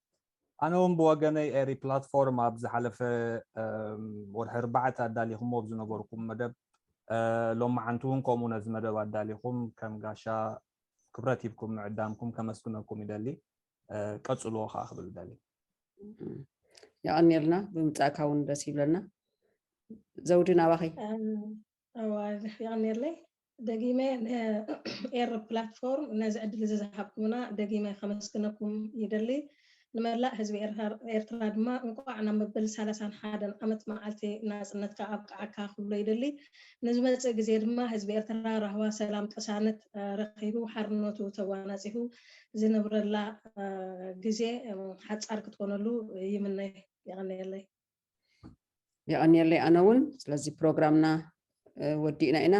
ኣነ ውን ብወገነይ ኤሪ ፕላትፎርም ኣብ ዝሓለፈ ወርሒ ኣርባዕተ ኣዳሊኹሞ ኣብ ዝነበርኩም መደብ ሎማዓንቲ ውን ከምኡ ነዚ መደብ ኣዳሊኹም ከም ጋሻ ክብረት ሂብኩም ምዕዳምኩም ከመስግነኩም ይደሊ ቀጽልዎ ከዓ ክብል ይደሊ የቐኒልና ብምጻእካ ውን ደስ ይብለና ዘውዲ ናባኸይ ኣዋይ የቐንየለይ ደጊመ ንኤሪ ፕላትፎርም ነዚ ዕድል እዚ ዝሃብኩምና ደጊመ ከመስግነኩም ይደሊ። ንመላእ ህዝቢ ኤርትራ ድማ እንቋዕ ናብ መበል ሳላሳን ሓደን ዓመት መዓልቲ ናጽነትካ ኣብቅዓካ ክብሎ ይደሊ። ንዝመጽእ ግዜ ድማ ህዝቢ ኤርትራ ራህዋ፣ ሰላም፣ ቅሳነት ረኺቡ ሓርነቱ ተጓናጺፉ ዝነብረላ ግዜ ሓጻር ክትኮነሉ ይምነ። የቐንየለይ። የቐንየለይ ኣነ እውን ስለዚ ፕሮግራምና ወዲእና ኢና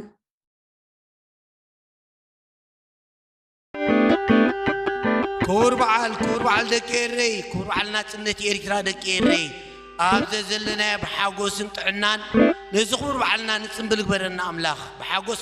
ክቡር በዓል ክቡር በዓል ደቂ ኤረይ ክቡር በዓል ናፅነት ኤርትራ ደቂ ኤረይ ኣብ ዘዘለናዮ ብሓጎስን ጥዕናን ነዚ ክቡር በዓልና ንፅምብል ግበረና ኣምላኽ ብሓጎስ